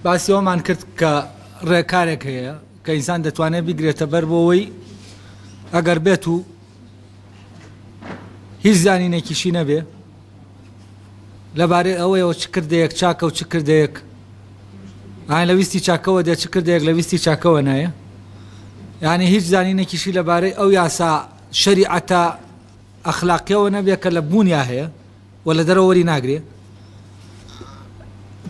باسی ئەوەمان کرد کە ڕێکارێک هەیە کە ئینسان دەتوانێت بیگرێتە بەر بۆەوەی ئەگەر بێت و هیچ زانینێکیشی نەبێ لەبارەی ئەوەیەوە چ کردەیەک چاکە و چ کردەیەک ئاین لە ویستی چاکەوە دێت چ کردێک لە ویستی چاکەوە نایە یعنی هیچ زانینێکیشی لەبارەی ئەو یاسا شەریعەتە ئەخلاقیەوە نەبێت کە لە بوونیا هەیە وە لە دەرەوە وەری ناگرێ.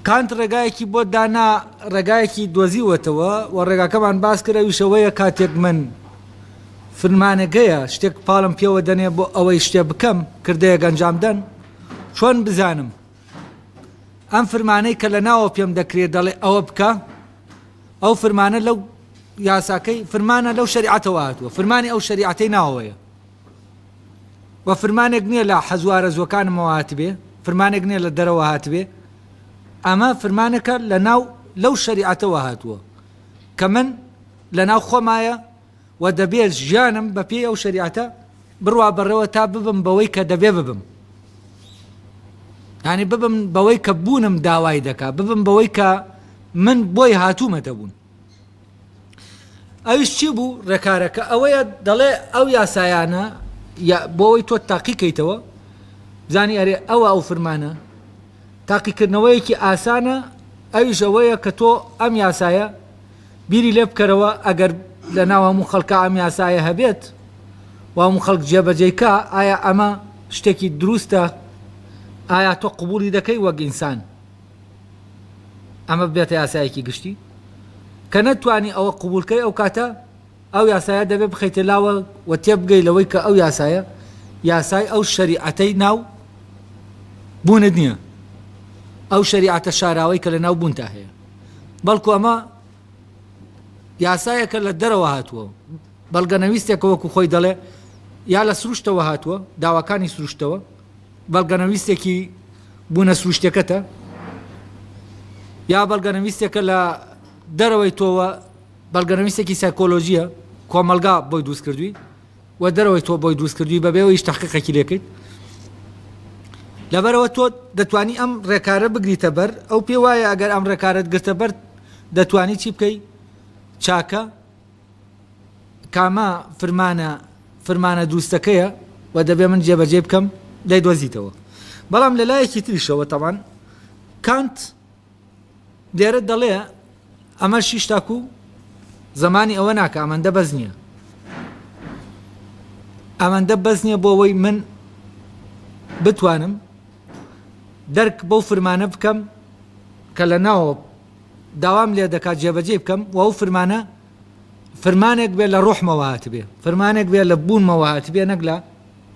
کانت ڕێگایەکی بۆ دانا ڕێگایەکی دۆزیوەتەوە و ڕێگاکەمان باس کرد ئەویش ئەوەیە کاتێک من فرمانەگەیە شتێک پاڵم پێوە دەنێ بۆ ئەوەی شتێ بکەم کردەیەک ئەنجام دەن چۆن بزانم ئەم فرمانەی کە لە ناوە پێم دەکرێت دەڵێ ئەوە بکە ئەو فرمانە لەو یاساکەی فرمانە لەو شریعەتەوە هاتووە فرمانی ئەو شریعەتەی ناوەیە و فرمانێک نیە لە حەزو ئارەزوەکانمەوە هاتبێ فرمانێک نیە لە دەرەوە هاتبێ ئەمە فرمانەکە لە ناو لەو شەریعەتەوە هاتووە کە من لە ناو خۆمایە و دەبێت ژیانم بە پێی ئەو شریعەتە بڕوا بەڕێوە تا ببم بەوەی کە دەبێ ببم هانی ببم بەوەی کە بوونم داوای دەکا ببم بەوەی کە من بۆی هاتوومەتە بوون ئەویش چی بوو ڕێکارەکە ئەوەیە دەڵێ ئەو یاسایانە بۆەوەی تۆ تاقیکەیتەوە زانی ئەرێ ئەوە ئەو فرمانە تاقیکردنەوەیەکی ئاسانە ئەویش ئەوەیە کە تۆ ئەم یاسایە بیری لێ بکەرەوە ئەگەر لە ناو هەموو خەڵکە ئەم یاسایە هەبێت وام خەڵک جێبەجێکە ئایا ئەمە شتێکی دروستە ئایا تۆ قوبولی دەکەی وەک ئینسان ئەمە ببێتە یاسایەکی گشتی کە نەتوانی ئەوە قبولکەی ئەو کاتە ئەو یاسایە دەبێت بخەیتە لاوە و تێبگەی لەوەی کە ئەو یاسایە یاسای ئەو شەریعەتەی ناو بوونت نییە ئەو شەریعەتە شاراوەی کە لە ناو بوونتا هەیە بەڵکو ئەمە یاسایەکە لە دەرەوە هاتووە بەڵگەنەویستێکە وەکو خۆی دەڵێ یا لە سروشتەوە هاتووە داواکانی سروشتەوە بەڵگەنەویستێکی بوونە سروشتیەکەتە یا بەڵگەنەویستێکە لە دەرەوەی تۆوە بەڵگەنەویستێکی سایکۆلۆژیە کۆمەلگا بۆی دووست کردووی و دەرەوەی تۆ بۆی دووست کردووی بەبێەوە هیچ تحقیقەکی لێکەیت لەبەرەوە تۆ دەتوانی ئەم ڕێکارە بگریتە بەر ئەو پێ وایە ئەگەر ئەم ڕێکارت گرتە بەر دەتوانی چی بکەی چاکە کامە فرمانە فرمانە دروستەکەیە و دەبێت من جێبەجێی بکەم، دەیدۆزیتەوە. بەڵام لە لایەکی تریشەوە تەبان کانت لێرە دەڵێ ئەمەش هیچ تاکوو زەمانی ئەوە ناکا ئەمەندە بەس نییە. ئەمەندە بەس نییە بۆ ئەوەی من بتوانم دەرک بەو فرمانە بکەم کە لە ناوە داوام لێ دەکات جێبەجێی بکەم و ئەو فرمانە فرمانێک بێ لە ڕۆحمەوە هاتبێ فرمانێک بێ لە بوونمەوە هاتبێ نەک لە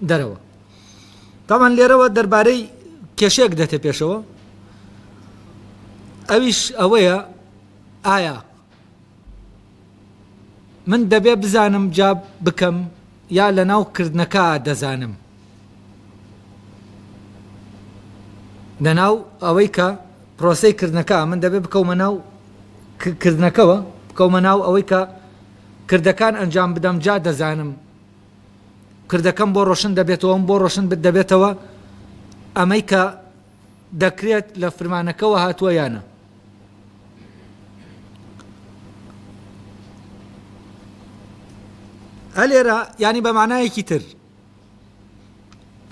دەرەوە تامان لێرەوە دەربارەی کێشێک دەتە پێشەوە ئەویش ئەوەیە ئایا من دەبێ بزانم جا بکەم یا لەناو کردنەکا دەزانم لەناو ئەوەی کە پرۆسەی کردنەکە من دەبێ بکەومە ناو کردنەکەەوە بکەومە ناو ئەوەی کە کردەکان ئەنجام بدەم جا دەزانم کردەکەم بۆ ڕۆشن دەبێتەوەم بۆ ڕۆشن بت دەبێتەوە ئەمەی کە دەکرێت لە فرمانەکەەوە هاتووە یانە ئەلێرە یانی بە مانایەکی تر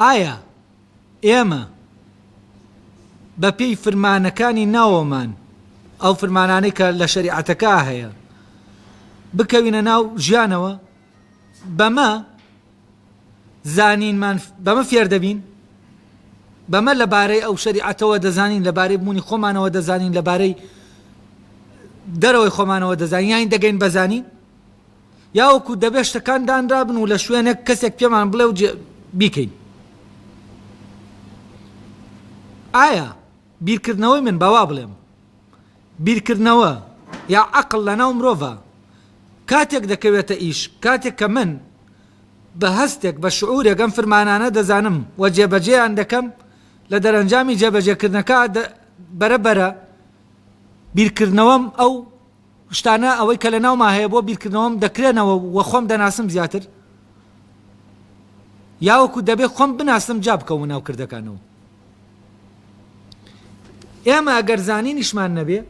ئایا ئێمە بە پێی فرمانەکانی ناوەمان ئەو فرمانانەی کە لە شەریعەتەکە هەیە بکەوینە ناو ژیانەوە بەمە زانینمان بەمە فێردەبین، بەمە لەبارەی ئەو شەریعەتەوە دەزانین، لەبارەی بوونی خۆمانەوە دەزانین، لەبارەی دەرەوەی خۆمانەوە دەزانین، یانی دەگەین بە زانین، یا وەکو دەبێت شتەکان دانرابن و لە شوێنێک کەسێک پێمان بڵێ و بیکەین. ئایا بیرکردنەوەی من بەوا بڵێم بیرکردنەوە یا عەقڵ لەناو مرۆڤا کاتێک دەکەوێتە ئیش، کاتێک کە من بە هەستێک، بە شعورێک ئەم فرمانانە دەزانم و جێبەجێیان دەکەم، لە دەرەنجامی جێبەجێکردنەکە بەرە بەرە بیرکردنەوەم ئەو شتانە ئەوەی کە لەناوما هەیە بۆ بیرکردنەوەم دەکرێنەوە و خۆم دەناسم زیاتر، یاوەکو دەبێ خۆم بناسم جا بکەومە ناو کردەکانەوە. ئێمە ئەگەر زانینیشمان نەبێ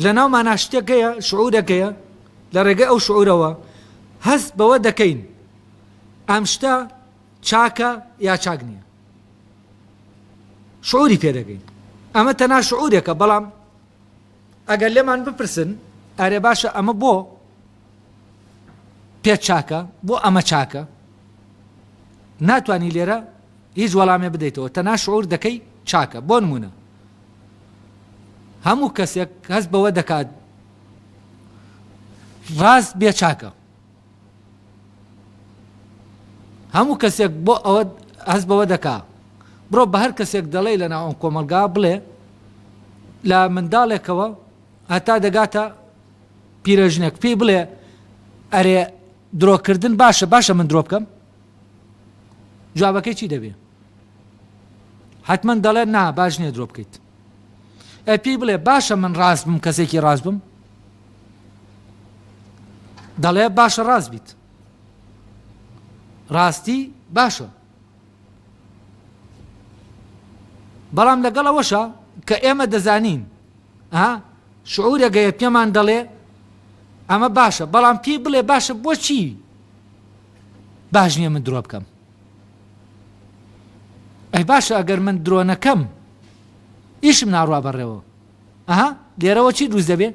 لەناو مانا شتەکەیە شعورەکەیە لە ڕێگەی ئەو شعورەوە هەست بەوە دەکەین ئەم شتە چاکە یا چاک نییە شعوری پێدەگەین ئەمە تەنا شعورێکە بەڵام ئەگەر لێمان بپرسن ئەرێ باشە ئەمە بۆ پێت چاکە؟ بۆ ئەمە چاکە؟ ناتوانی لێرە هیچ وەڵامێ بدەیتەوە تەنها شعور دەکەی چاکە بۆ نمونە هەموو کەسێک هەست بەوە دەکات ڕاست بێ چاکە هەموو کەسێک بۆ ئەوە هەست بەوە دەکا بڕۆ بە هەر کەسێک دەڵێ لە ناوەم کۆمەلگا بڵێ لە منداڵێکەوە هەتا دەگاتە پیرەژنێک پێی بڵێ ئەرێ درۆکردن باشە باشە من درۆ بکەم جوابەکەی چی دەبێ حتمما دەڵێت نا باش نیە درۆ بکەیت ئە پێی بڵێ باشە من ڕاست بم کەسێکی ڕاست بم دەڵێ باشە ڕاست بیت ڕاستی باشە بەڵام لەگەڵەوەشە کە ئێمە دەزانین ئا شعورە گەیە پێمان دەڵێ ئەمە باشە بەڵام پێی بڵێ باشە بۆچی باش نییە من درۆ بکەم ئەی باشە ئەگەر من درۆنەکەم ئیشم ناڕوا بەڕێوە ئەها لێرەوە چی دروست دەبێ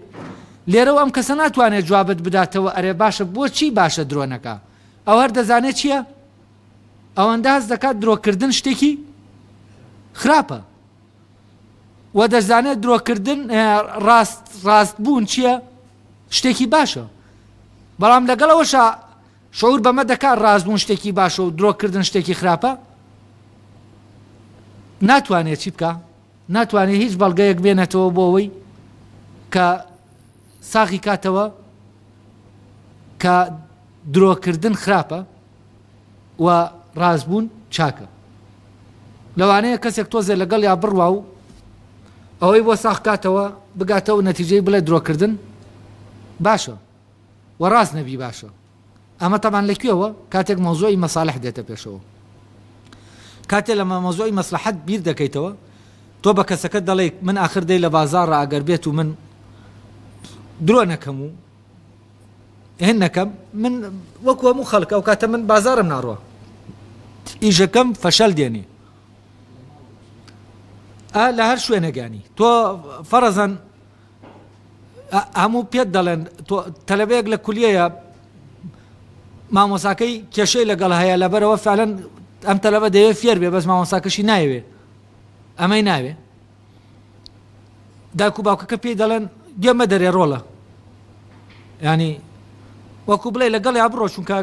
لێرەوە ئەم کەسە ناتوانێت جوابت بداتەوە ئەرێ باشە بۆچی باشە درۆنەکە ئەو هەر دەزانێت چییە ئەوەندە هەست دەکات درۆکردن شتێکی خراپە و دەزانێت درۆکردن ڕاست ڕاست بوون چییە شتێکی باشە بەڵام لەگەڵەوەشە شعور بەمە دەکات ڕاستبوون شتێکی باشە و درۆکردن شتێکی خراپە ناتوانێت چی بکە ناتوانێت هیچ بەڵگەیەک بێنێتەوە بۆ ئەوەی کە ساغی کاتەوە کە درۆکردن خراپە و ڕاست بوون چاکە. لەوانەیە کەسێک تۆزێ لەگەڵیا بڕوا و ئەوەی بۆ ساخ کاتەوە بگاتە و نەتیجەی بڵێ درۆکردن باشە و ڕاست نەبی باشە. ئەمە تەبان لە کوێوە کاتێک مەوزوعی مەسالح دێتە پێشەوە. کاتێ لە مەمەزۆی مەسلحەت بیر دەکەیتەوە تۆ بە کەسەکە دەڵێیت من ئاخر دەی لە بازاڕە ئەگەر بێت و من درۆ نەکەم و هێنەکەم من وەکو هەموو خەڵک ئەو کاتە من بازارم ناڕوە ئیژەکەم فەشەل دێنێ ئا لە هەر شوێنەگانی تۆ فەرەزەن هەموو پێت دەڵێن تەلەبەیەک لە کولیەیە مامۆساکەی کێشەی لەگەڵ هەیە لەبەرەوە فعلەن ئەم تەلەبە دەوێت فێر بێ بەس مامۆساکەشی ناوێ ئەمەی ناوێ دایک و باوکەکە پێی دەڵێن گوێ مەدەرێ ڕۆڵە ینی وەکو بڵێ لەگەڵ یا بڕۆ چونکە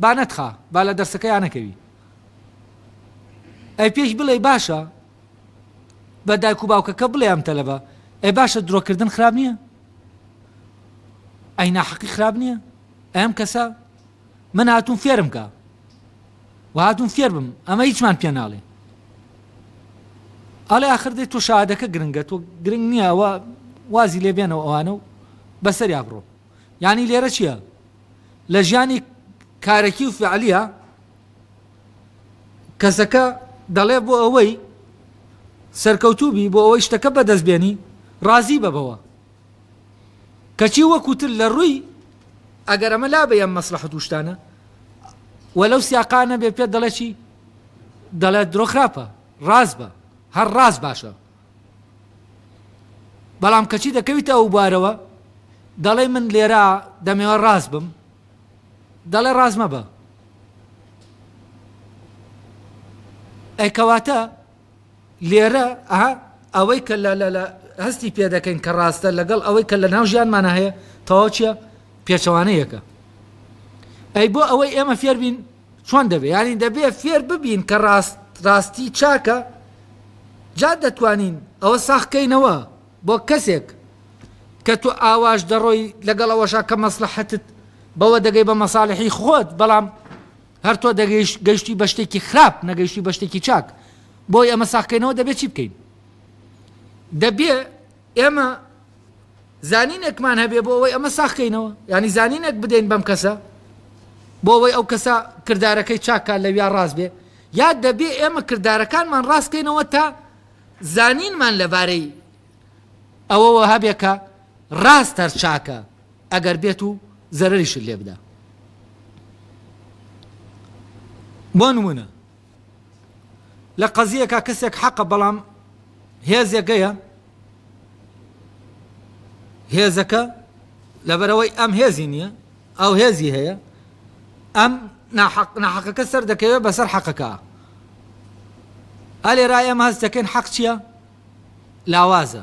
با نەتخا با لە دەرسەکەیان نەکەوی ئەی پێش بڵێ باشە بە دایک و باوکەکە بڵێ ئەم تەلەبە ئەی باشە درۆکردن خراب نییە ئەی ناحەقی خراب نییە ئەم کەسە من هاتوون فێرم کە و هاتووم فێربم ئەمە هیچمان پێ ناڵێن ئەڵێ ئاخر دێت تۆ شادەکە گرنگە تۆ گرنگ نییە ئەوە وازی لێ بێنەوە ئەوانە و بەسەریا بڕۆ یعنی لێرە چییە لە ژیانی کارەکی و فعلیە کەسەکە دەڵێ بۆ ئەوەی سەرکەوتوبی بۆ ئەوەی شتەکە بەدەست بێنی ڕازی بەبەوە کەچی وەک وتت لە ڕووی ئەگەر ئەمە لابەی ئەم مەسلەحەت و شتانە و لەو سیاقا نەبێ پێت دەڵێ چی دەڵێت درۆ خراپە ڕاست بە هەر ڕاست باشە بەڵام کەچی دەکەویتە ئەو بارەوە دەڵێ من لێرە دەمەوە ڕاست بم دەڵێ ڕاست مەبە ئەی کەواتە لێرە ئه ئەوەی کە لە لە هەستی پێ دەکەین کە ڕاستە لەگەڵ ئەوەی کە لە ناو ژیانمانە هەیە تەواو چیە پێچەوانە یەکە ئەی بۆ ئەوەی ئێمە فێربین چۆن دەبێ یانی دەبێ فێر ببین کە ڕاست ڕاستی چاکە جا دەتوانین ئەوە ساخکەینەوە بۆ کەسێک کە تو ئاواش دەڕۆی لەگەڵ ئەوەشا کە مەسلحەتت بەوە دەگەی بە مەساالحی خۆت بەڵام هەر تۆ دەگەیشت گەیشتوی بە شتێکی خراپ نەگەیشتوی بە شتێکی چاک بۆی ئەمە ساخکەینەوە دەبێت چی بکەین دەبێ ئێمە زانینێکمان هەبێ بۆ ئەوەی ئەمە ساخکەینەوە ینی زانینێک بدەین بەم کەسە بۆ ئەوەی ئەو کەسە کردارەکەی چاکە لە ویا ڕاست بێ یا دەبێ ئێمە کردارەکانمان ڕاستکەینەوە تا زانینمان لەبارەی ئەوەوە هەبێکە ڕاست هەر چاکە ئەگەر بێت و زەرەریشت لێ بدا. بۆ نموونە لە قەزییەکا کەسێک حەقە بەڵام هێزێگەیە هێزەکە لەبەرەوەی ئەم هێزی نییە ئەو هێزی هەیە ئەم ناحەقەکە سەر دەکەوێت بەسەر حەقەکە ئەلێرا ئێمە هەست دەکەین حەق چییە لاوازە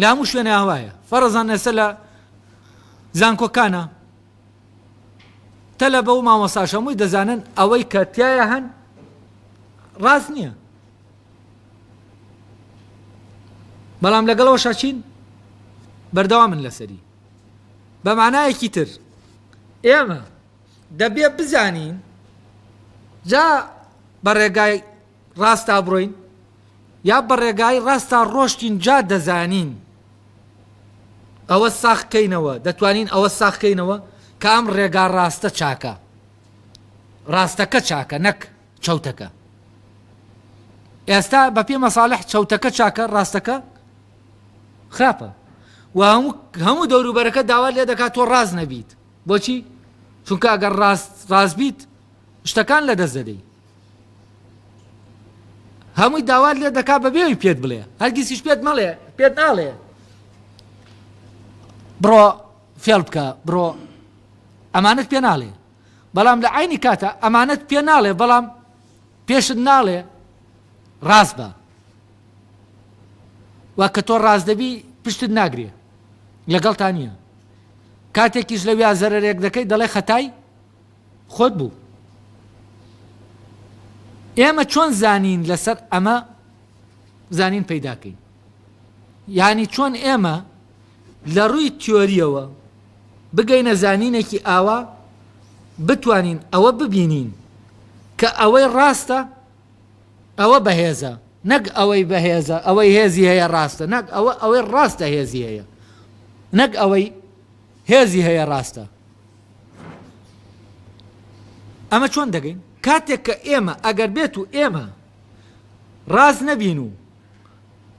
لە هەموو شوێنە هەوایە فەرەزان ئێستا لە زانکۆکانە تەلە بە و مامۆساش هەمووی دەزانن ئەوەی کە تایە هەن ڕاست نییە بەڵام لەگەڵەوە شاچین بەردەوا من لەسەری بە مانایەکی تر ئێمە دەبێ بزانین جا بە ڕێگای ڕاستا بڕۆین یا بە ڕێگای ڕاستا ڕۆشتین جا دەزانین ئەوە ساخ کەینەوە دەتوانین ئەوە ساخ کەینەوە کە ئەم ڕێگا ڕاستە چاکە ڕاستەکە چاکە نەک چەوتەکە ئێستا بە پێ مەساالح چەوتەکە چاکە ڕاستەکە خراپە و هەموو دەوروبەرەکە داوا لێ دەکات تۆ ڕاز نەبیت بۆچی چونکە ئەگەر ڕاست ڕاست بیت شتەکان لە دەست دەدەیت هەمووی داوات لێ دەکا بەبێ ئەوی پێت بڵێ هەرگیزیش پێت مەڵێ پێت ناڵێ بڕۆ فێڵ بکە بڕۆ ئەمانەت پێ ناڵێ بەڵام لە عینی کاتە ئەمانەت پێ ناڵێ بەڵام پێشت ناڵێ ڕاست بە و کە تۆ ڕاست دەبی پشتت ناگرێ لەگەڵتا نییە کاتێکیش لە ویا زەرێک دەکەی دەڵێ خەتای خۆت بوو. ئێمە چۆن زانین لەسەر ئەمە زانین پەیداکەین؟ یانی چۆن ئێمە لە ڕووی تیۆریەوە بگەینە زانینێکی ئاوا بتوانین ئەوە ببینین کە ئەوەی ڕاستە ئەوە بەهێزە نەک ئەوەی بەهێزە ئەوەی هێزی هەیە ڕاستە نەک ئەوە ئەوەی ڕاستە هێزی هەیە نەک ئەوەی هێزی هەیە ڕاستە ئەمە چۆن دەگەین کاتێک کە ئێمە ئەگەر بێت و ئێمە ڕاست نەبین و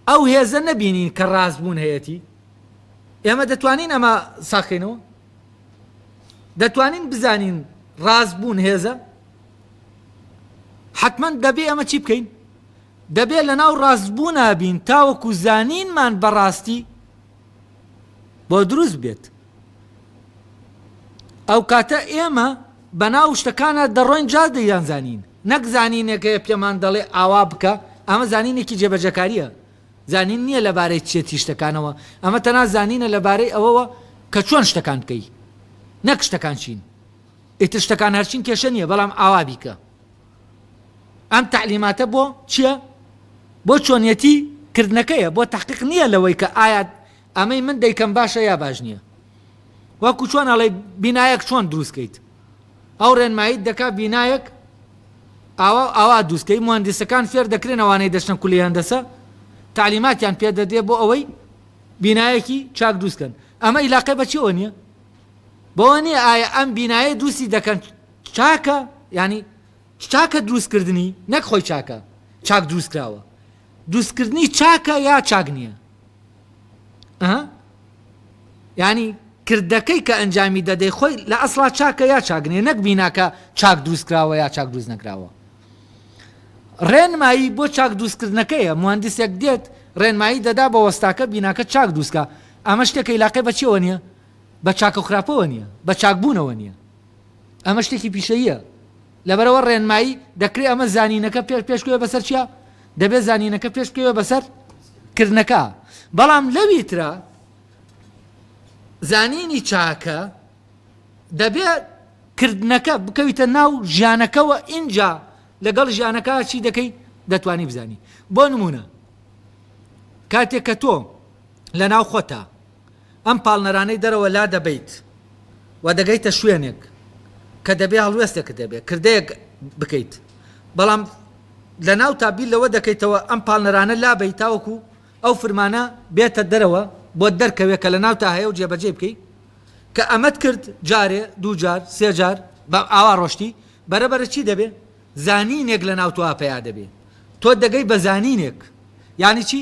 ئەو هێزە نەبینین کە ڕاستبوون هەیەی ئێمە دەتوانین ئەمە ساخینەوە دەتوانین بزانین ڕاستبوون هێزە حتمما دەبێ ئەمە چی بکەین دەبێت لە ناو ڕاستبوو نابین تاوەکو زانینمان بەڕاستی بۆ دروست بێت ئەوکاتە ئێمە بەناو شتەکانا دەڕۆین جا دەیانزانین نەک زانینێک هەیە پێمان دەڵێ ئاوا بکە ئەمە زانینێکی جێبەجەکارییە زانین نییە لەبارەی چێتی شتەکانەوە ئەمە تەنا زانینە لەبارەی ئەوەوە کە چۆن شتەکان بکەی نەک شتەکان چین ئیتر شتەکان هەرچین کێشە نییە بەڵام ئاوا بیکە ئەم تەعلیماتە بۆ چیە؟ بۆ چۆنیەتی کردنەکەیە بۆ تەحقیق نیە لەوەی کە ئایات ئەمەی من دەیکەم باشە یا باش نیە وەکو چۆن ئەڵێ بینایەک چۆن دروستکەیت ئەو ڕێنماییت دەکا بینایەک ئاوا ئاوا دووسکەی مهندسەکان فێر دەکرێن ئەوانەی دەچنە کولی هەندەسە تعلیماتیان پێ دەدرێ بۆ ئەوەی بینایەکی چاک دروستکەن ئەمە ئیلاقی بەچیەوە نیە بەوە نیە ئایا ئەم بینایە دووسی دەکەن چاکە یانی چاکە دروست کردنی نەک خۆی چاکە چاک دروست کراوە دروستکردنی چاکە یا چاک نییە ینی کردەکەی کە ئەنجامی دەدەی خۆی لە ئەسڵا چاکە یا چاگنێ نەک بیناکە چاک دروستکراوە یا چاک دروست نەکراوە ڕێنمایی بۆ چاک دروستکردنەکەیە مهندسێک دێت ڕێنمایی دەدا بە وەستاکە بیناکە چاک دووسکە ئەمە شتێکە یلاقی بەچەوە نیە بە چاکە خراپەوە نیە بە چاکبوونەوە نیە ئەمە شتێکی پیشەییە لەبەرەوە ڕێنمایی دەکرێت ئەمە زانینەکە پێش پێشکەوێ بەسەر چیە دەبێت زانینەکە پێش بکەوێ بەسەر کردنەکە بەڵام لەوی ترا زانینی چاکە دەبێت کردنەکە بکەویتە ناو ژیانەکەەوە ئینجا لەگەڵ ژیانەکە چی دەکەی دەتوانی بزانی بۆ نمونە کاتێک کە تۆ لە ناو خۆتا ئەم پاڵنەرانەی دەرەوە لادەبەیت و دەگەیتە شوێنێک کە دەبێ هەڵوێستێکت هەبێت، کردەیەک بکەیت، بەڵام لە ناوتا بیر لەوە دەکەیتەوە ئەم پاڵنەرانە لابەیت تاوەکو ئەو فرمانە بێتە دەرەوە بۆت دەرکەوێت کە لە ناوتا هەیە و جێبەجێی بکەیت، کە ئەمەت کرد جارێ، دوو جار، سێ جار بە ئاوا ڕۆشتی، بەرەبەرە چی دەبێ؟ زانینێک لە ناو تۆا پەیا دەبێ، تۆ دەگەی بە زانینێک، یانی چی؟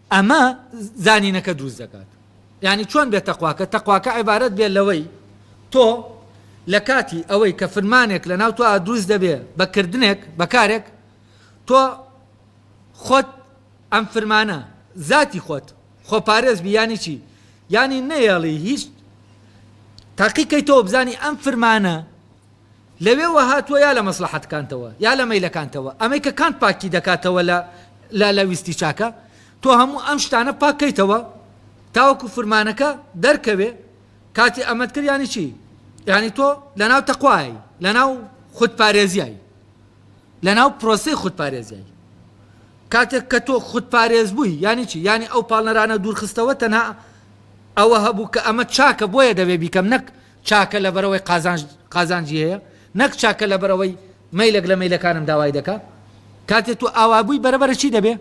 ئەمە زانینەکە دروست دەکات. یانی چۆن بێ تەقواکە؟ تەقواکە عیبارەت بێ لەوەی تۆ لە کاتی ئەوەی کە فرمانێک لە ناو تۆ دروست دەبێ بە کردنێک بە کارێک تۆ خۆت ئەم فرمانە زاتی خۆت خۆ پارێز بی یانی چی؟ یانی نەیەڵی هیچ تاقیکەی تۆ بزانی ئەم فرمانە لەوێوە هاتووە یا لە مەسڵەحەتکانتەوە یا لە مەیلەکانتەوە ئەمەی کە کانت پاکی دەکاتەوە لە لە لە ویستی چاکە تۆ هەموو ئەم شتانە پاک کەیتەوە تاوەکو فرمانەکە دەرکەوێ کاتی ئەمەت کرد یانی چی یانی تۆ لەناو تەقوای لەناو خودپارێزیای لەناو پرۆسی خودپارێزیای کاتێک کە تۆ خودپارێز بووی یانی چی یانی ئەو پاڵنەرانە دوورخستەوە تەنها ئەوە هەبوو کە ئەمە چاکە بۆیە دەبێ بیکەم نەک چاکە لەبەرئەوەی قازانج قازانجی هەیە نەک چاکە لەبەرئەوەی مەیلەک لە مەیلەکانم داوای دەکا کاتێ تو ئاوا بوی بەرەبەرە چی دەبێ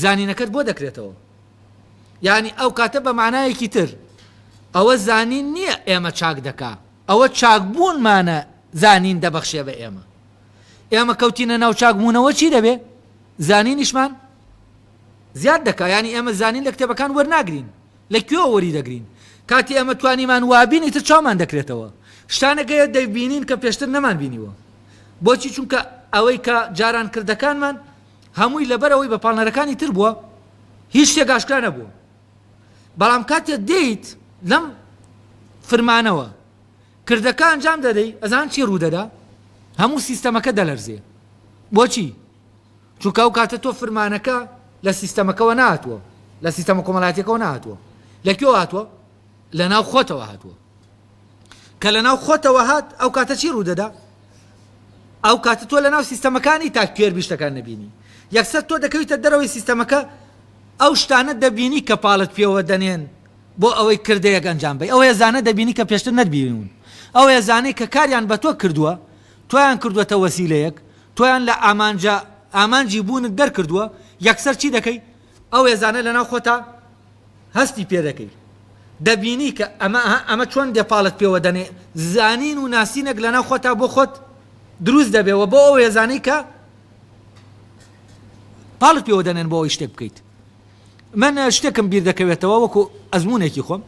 زانینەکەت بۆ دەکرێتەوە یانی ئەو کاتە بە مانایەکی تر ئەوە زانین نییە ئێمە چاک دەکا ئەوە چاک بوونمانە زانین دەبەخشێ بە ئێمە ئێمە کەوتینە ناو چاک بوونەوە چی دەبێ زانینیشمان زیاد دەکا یانی ئێمە زانین لە کتێبەکان وەرناگرین لە کوێوە وەری دەگرین کاتی ئێمە توانیمان وابین ئیتر چاومان دەکرێتەوە شتانێک هەیە دەیبینین کە پێشتر نەمان بینیوە بۆچی چونکە ئەوەی کە جاران کردەکانمان هەمووی لەبەر ئەوەی بە پاڵنەرەکانی تر بووە هیچ شتێک ئاشکرا نەبوو بەڵام کاتێ دێیت لەم فرمانەوە کردەکە ئەنجام دەدەی ئەزان چی ڕوودەدا هەموو سیستەمەکە دەلەرزێ بۆچی چونکە ئەو کاتە تۆ فرمانەکە لە سیستەمەکەوە نەهاتووە، لە سیستەمە کۆمەلایەتیەکەوە نەهاتووە، لە کوێوە هاتووە؟ لە ناو خۆتەوە هاتووە، کە لە ناو خۆتەوە هات ئەو کاتە چی ڕوودەدا؟ ئەو کاتە تۆ لە ناو سیستەمەکە نیت تا کوێربی شتەکان نەبینی، یەکسەر تۆ دەکەویتە دەرەوەی سیستەمەکە ئەو شتانە دەبینی کە پاڵت پێوە دەنێن بۆ ئەوەی کردەیەک ئەنجام بەی، ئەو هێزانە دەبینی کە پێشتر نەتبینیون، ئەو هێزانەی کە کاریان بە تۆ کردووە، تۆیان کردووەتە وەسیلەیەک، تۆیان لە ئامانجە ئامانجی بوونت دەرکردووە، یەکسەر چی دەکەی؟ ئەو هێزانە لەناو خۆتا هەستی پێ دەکەی. دەبینی کە ئەمە ئەها ئەمە چۆن دێ پاڵت پێوە دەنێ. زانین و ناسینێک لەناو خۆتا بۆ خۆت دروست دەبێ و بۆ ئەو هێزانەی کە پاڵت پێوە دەنێن بۆ ئەوەی شتێک بکەیت. من شتێکم بیر دەکەوێتەوە وەکوو ئەزموونێکی خۆم.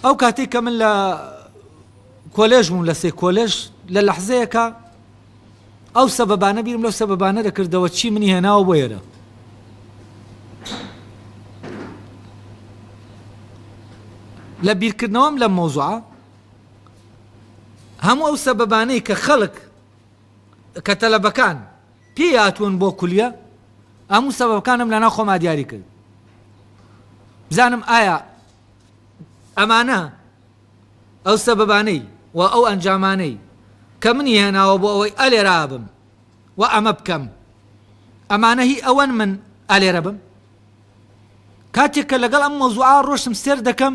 ئەو کاتەی کە من لە کۆلێژ بووم لە سێ کۆلێژ لە لەحزەیەکا ئەو سەبەبانە بیرم لەو سەبەبانە دەکردەوە چی منی هێناوە بۆ ئێرە لە بیرکردنەوەم لە مۆزوع هەموو ئەو سەبەبانەی کە خەڵک کە تەلەبەکان پێی هاتوون بۆ کولیە ئەموو سەبەکانم لەنا خۆما دیاری کرد بزانم ئایا ئەمانە ئەو سەبەبانەی و ئەو ئەنجامانەی کە منی هێناوە بۆ ئەوەی ئەلێرا بم و ئەمە بکەم، ئەمانە هی ئەوەن من ئەلێرە بم؟ کاتێک کە لەگەڵ ئەم مەوزوعە ڕۆشتم سێر دەکەم،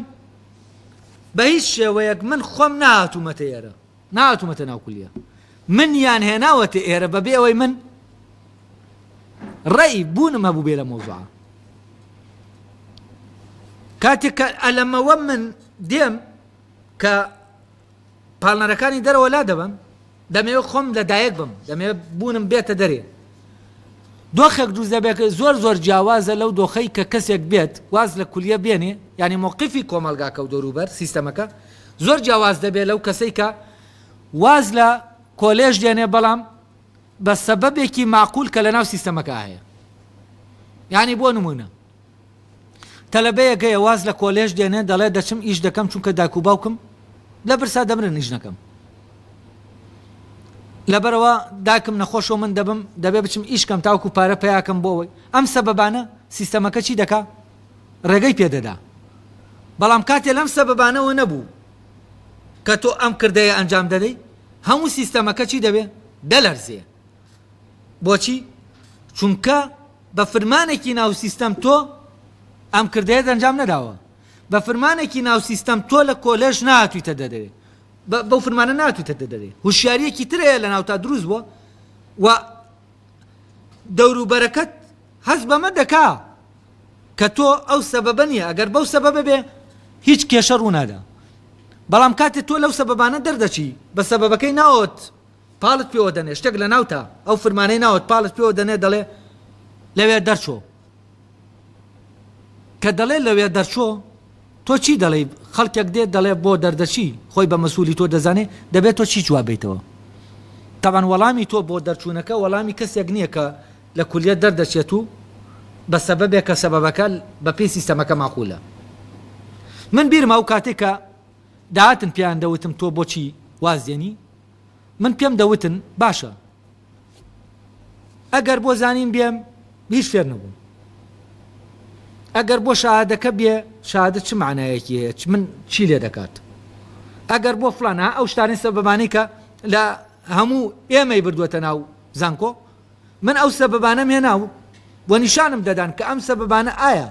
بە هیچ شێوەیەک من خۆم نەهاتوومەتە ئێرە. نەهاتوومەتە ناو کولیە. منیان هێناوەتە ئێرە بەبێ ئەوەی من ڕەئی بوونم هەبووبێ لە مەوزوعە. کاتێک کە ئەلەمەوە من دێم کە پاڵنەرەکانی دەرەوە لا دەبەم دەمەوێت خۆم لە دایک بم دەمەوێت بوونم بێتە دەرێ دۆخێک دروست دەبێت کە زۆر زۆر جیاوازە لەو دۆخەی کە کەسێک بێت واز لە کولیە بێنێ یانی مەوقفی کۆمەڵگاکە و دەوروبەر سیستەمەکە زۆر جیاواز دەبێت لەو کەسەی کە واز لە کۆلێژ دێنێ بەڵام بە سەبەبێکی ماقول کە لەناو سیستەمەکە هەیە یانی بۆ نمونە تەلەبەیەک هەیە واز لە کۆلێژ دێنێ دەڵێ دەچم ئیش دەکەم چونکە دایک و باوکم لە برسا دەمرن ئیش نەکەم لەبەرەوە داکم نەخۆش و من دەبم دەبێ بچم ئیشکەم تاوکو پارە پیاکەم بۆ ئەوەی ئەم سەبەبانە سیستەمەکە چی دەکا ڕێگەی پێدەدا بەڵام کاتێ لەم سەبەبانەوە نەبوو کە تۆ ئەم کردەیە ئەنجام دەدەی هەموو سیستەمەکە چی دەبێ دەلەرزێ بۆچی؟ چونکە بە فرمانێکی ناو سیستەم تۆ ئەم کردەیەت ئەنجام نەداوە. بە فرمانێکی ناو سیستەم تۆ لە کۆلێژ نهاتوویتە دەرێ. بەو فرمانە نهاتوویتە دەرێ. هوشیارییەکی تر هەیە لەناوتا دروست بووە و دەوروبەرەکەت هەست بەمە دەکا کە تۆ ئەو سەبەبە نییە، ئەگەر بەو سەبەبە بێ هیچ کێشە ڕوونادا. بەڵام کاتێ تۆ لەو سەبەبانە دەردەچی، بە سەبەبەکەی ناوت پاڵت پێوە دەنێ شتێک لە ناوتە ئەو فرمانەی ناوت پاڵت پێوە دەنێ دەڵێ لەوێ دەرچۆ کە دەڵێ لەوێ دەرچۆ تۆ چی دەڵێ خەڵکێک دێت دەڵێ بۆ دەردەچی خۆی بە مەسوولی تۆ دەزانێ دەبێت تۆ چی جواب بیتەوە تاوان وەڵامی تۆ بۆ دەرچوونەکە وەڵامی کەسێک نییە کە لە کولیە دەردەچێت و بە سەبەبێک کە سەبەبەکە بەپی سیستەمەکە ماقولە من بیرمە و کاتێکە داهاتن پێیان دەوتم تۆ بۆچی وازێنی من پێم دەوتن باشە ئەگەر بۆ زانین بێم هیچ فێر نەبووم ئەگەر بۆ شادەکە بێ شادە چ معنایەکی هەیە چ من چی لێ دەکات ئەگەر بۆ فلانە ئەو شتانی سەبەبانی کە لە هەموو ئێمەی بردووەتە ناو زانکۆ من ئەو سەبەبانەم هێنا و و نیشانم دەدان کە ئەم سەبەبانە ئایا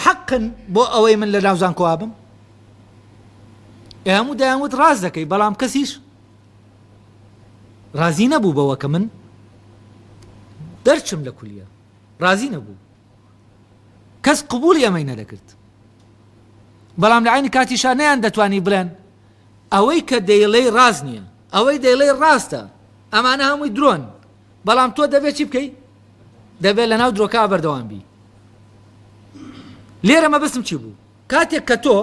حەقن بۆ ئەوەی من لە ناو زانکۆوا بم ئێمە دایانوت ڕاز دەکەی بەڵام کەسیش ڕازی نەبوو بەوە کە من دەرچم لە کولیە ڕازی نەبوو کەس قبوڵی ئەمەی نەدەکرد بەڵام لەعەینی کاتیشا نەیان دەتوانی بڵێن ئەوەی کە دەیڵێی ڕاست نییە ئەوەی دەیڵێی ڕاستە ئەمانە هەمووی درۆن بەڵام تۆ دەبێت چی بکەی دەبێت لە ناو درۆکە بەردەوام بی لێرە مەبستم چی بوو کاتێک کە تۆ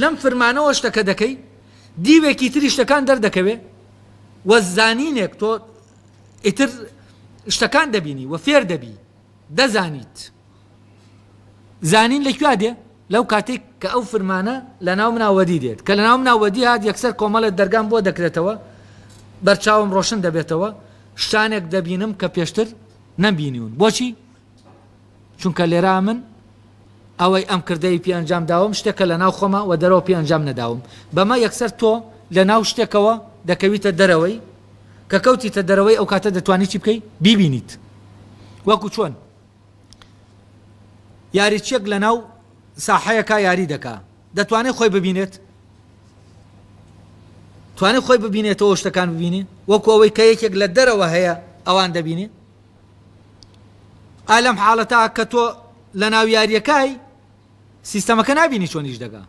لەم فرمانەوە شتەکە دەکەی دیوێکی تری شتەکان دەردەکەوێ وە زانینێک تۆ ئیتر شتەکان دەبینی وە فێر دەبی دەزانیت زانین لە کوێ دێ؟ لەو کاتەی کە ئەو فرمانە لە ناو منا وەدی دێت، کە لە ناو منا وەدی هات یەکسەر کۆمەڵێ دەرگام بۆ دەکرێتەوە، بەرچاوم ڕۆشن دەبێتەوە، شتانێک دەبینم کە پێشتر نەمبینیون، بۆچی؟ چونکە لێرا من. ئەوەی ئەم کردەی پێ ئەنجام داوم شتێکە لە ناو خۆمە و دەرەوە پێ ئەنجام نەداوم، بەمە یەکسەر تۆ لە ناو شتێکەوە دەکەویتە دەرەوەی، کە کەوتیتە دەرەوەی ئەو کاتە دەتوانی چی بکەی؟ بیبینیت وەکو چۆن یاریچیەک لە ناو ساحەیەکا یاری دەکا دەتوانێت خۆی ببینێت؟ توانێت خۆی ببینێتەوە شتەکان ببینێ وەکو ئەوەی کە یەکێک لە دەرەوە هەیە ئەوان دەبینێ؟ ئا لەم حاڵەتە کە تۆ لە ناو یاریەکای سیستەمەکە نابینی چۆن ئیش دەکا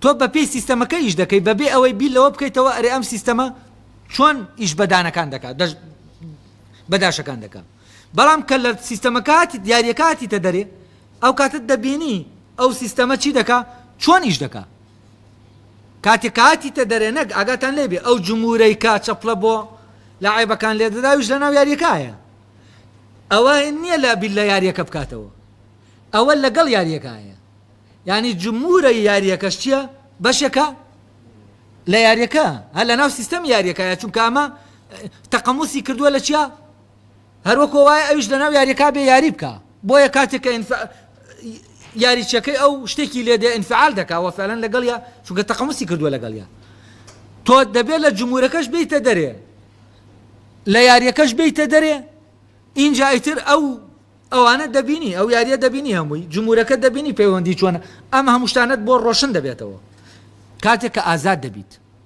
تۆ بە پێی سیستەمەکە ئیش دەکەی بەبێ ئەوەی بیر لەوە بکەیتەوە ئەرێ ئەم سیستەمە چۆن ئیش بەدانەکان دەکات بەداشەکان دەکات بەڵام کە لە سیستەمەکاتی دیارەکاتی تە دەرێ ئەو کاتت دەبینی ئەو سیستەمە چی دەکا چۆن ئیش دەکا کاتێ کە هاتیتە دەرێ نەک ئاگاتان لێ بێ ئەو جمورەی کە چەپڵە بۆ لە عێبەکان لێ دەداویش لە ناو یاریەکایە ئەوە نییە لە بیل لە یاریەکە بکاتەوە ئەوە لەگەڵ یاریەکایە ینی جمورە یاریەکەش چییە بەشەکە لە یاریەکە هە لە ناو سیستەم یاریەکە چونکە ئەمە تەقەموسی کردووە لە چیا هەروەکۆ وایە ئەویش لە ناو یاریەکە بێ یاری بکا بۆیە کاتێک کە ئینف یاریچەکەی ئەو شتێکی لێ دێ ئینفعال دەکا وە فعلەن لەگەڵ یا چونکە تەقەمسی کردووە لەگەڵ یا تۆ دەبێت لە جمهورەکەش بیتە دەرێ لە یاریەکەش بیتە دەرێ اینجا ئیتر ئەو ئەوانە دەبینی ئەو یاریە دەبینی هەمووی جمهورەکە دەبینی پەیوەندی چۆنە ئەم هەمووشتانت بۆ ڕۆشن دەبێتەوە کاتێک کە ئازاد دەبیت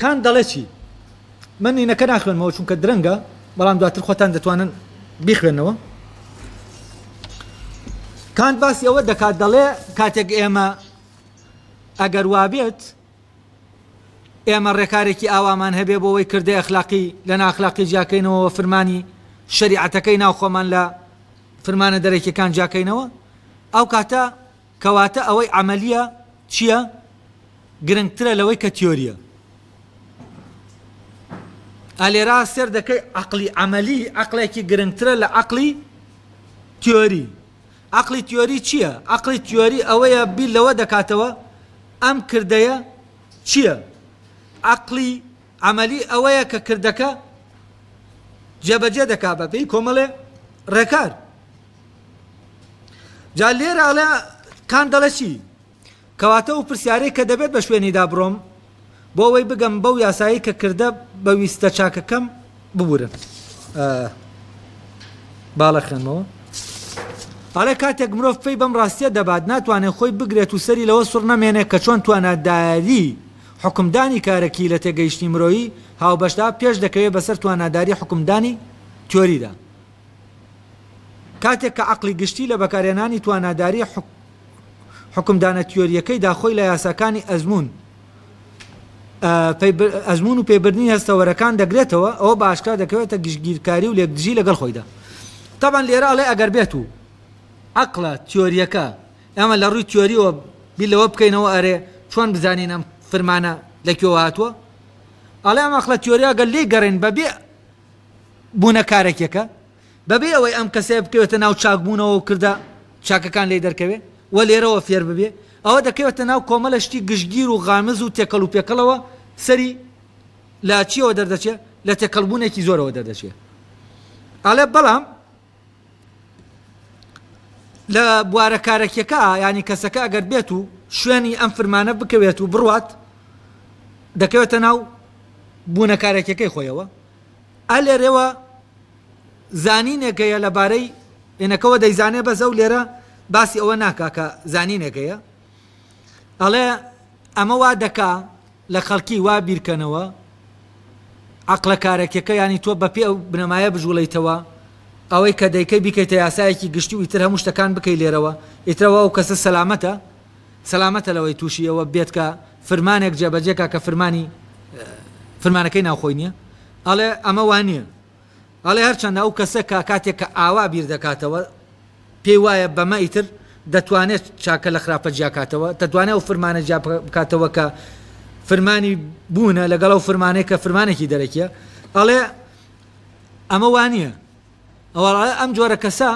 کان دەڵێ چی؟ من نینەکە ناخوێنمەوە چونکە درەنگە بەڵام دواتر خۆتان دەتوانن بیخوێنەوە کانت باسی ئەوە دەکات دەڵێ کاتێک ئێمە ئەگەر وابێت ئێمە ڕێکارێکی ئاوامان هەبێ بۆەوەی کردی ئەخلاقی لە ناخلاقی جیاکەینەوە فرمانی شریعەتەکەی ناوخۆمان لە فرمانە دەرەکیەکان جیاکەینەوە ئەو کاتە کەواتە ئەوەی عەمەلیە چیە گرنگترە لەوەی کە تیۆریە. ئا لێرا سێر دەکەی عەقلی عەمەلی عەقلێکی گرنگترە لە عەقلی تیۆری. عەقلی تیۆری چیە؟ عەقلی تیۆری ئەوەیە بیر لەوە دەکاتەوە ئەم کردەیە چیە؟ عەقلی عەمەلی ئەوەیە کە کردەکە جێبەجێ دەکا بەپێی کۆمەڵێ ڕێکار. جا لێرە ئەڵێ کان دەڵێ چی کەواتە ئەو پرسیارەی کە دەبێت بە شوێنیدا بڕۆم بۆ ئەوەی بگەم بەو یاسایی کە کردە بە ویستە چاکەکەم ببورن باڵە خوێنمەوە ئەڵێ کاتێک مرۆڤ پێی بەم ڕاستیە دەبات ناتوانێت خۆی بگرێت و سەری لەوە سڕ نەمێنێ کە چۆن تواناداری حکمدانی کارەکی لە تێگەیشتنی مرۆیی هاوبەشدا پێش دەکەوێت بەسەر تواناداری حکمدانی تیۆریدا کاتێک کە عەقڵی گشتی لە بەکارهێنانی توانادارییە حوکمدانە تیۆرییەکەیدا خۆی لە یاساکانی ئەزموون ئەزمون و پێبردنی هەستەوەرەکان دەگرێتەوە ئەوە بە ئاشکرا دەکەوێتە گشتگیرکاری و لێکدژی لەگەڵ خۆیدا تاوان لێرە ئەڵێ ئەگەر بێت و عقلە تیۆریەکە ئەمە لە ڕووی تیۆریەوە بیر لەوە بکەینەوە ئەرێ چۆن بزانین ئەم فرمانە لە کوێوە هاتووە ئەڵێ ئەم ئەخلە تیۆریاگەل لێ گەڕێن بەبێ بوونە کارەکیەکە بەبێ ئەوەی ئەم کەسەیە بکەوێتە ناو چاکبوونەوە و کردە چاکەکان لێی دەرکەوێ و لێرەوە فێر ببێ ئەوە دەکەوێتە ناو کۆمەلە شتی گشتگیر و غامز و تێکەڵ و پێکەڵەوە سەری لە چیەوە دەردەچێ لە تێکەڵبوونێکی زۆرەوە دەردەچێ ئەڵێ بەڵام لە بوارە کارەکیەکە یانی کەسەکە ئەگەر بێت و شوێنی ئەم فرمانە بکەوێت و بڕوات دەکەوێتە ناو بوونە کارەکیەکەی خۆیەوە ئە لێرەوە زانینێکەیە لەبارەی ئێنەکەەوە دەیزانێ بەس ئەو لێرە باسی ئەوە ناکا کە زانینێکەیە ئەڵێ ئەمە وا دەکا لە خەڵکی وا بیرکەنەوە عەقڵە کارەکیەکە یانی تۆ بەپێی ئەو بنەمایە بجوڵێیتەوە ئەوەی کە دەیکەی بیکەیتە یاسایەکی گشتی و ئیتر هەموو شتەکان بکەی لێرەوە ئیتر ئەوە ئەو کەسە سەلامەتە سەلامەتە لەوەی تووشی ئەوە بێت کە فرمانێک جێبەجێ کا کە فرمانی فرمانەکەی ناوخۆی نیە ئەڵێ ئەمە وا نیە. ئەڵێ هەرچەندە ئەو کەسە کە کاتێک کە ئاوا بیر دەکاتەوە پێی وایە بەمە ئیتر دەتوانێت چاکە لە خراپە جیاکاتەوە دەتوانێت ئەو فرمانە جیا بکاتەوە کە فرمانی بوونە لەگەڵ ئەو فرمانەیە کە فرمانێکی دەرەکیە ئەڵێ ئەمە وانە ئەوە ئەم جۆرە کەسە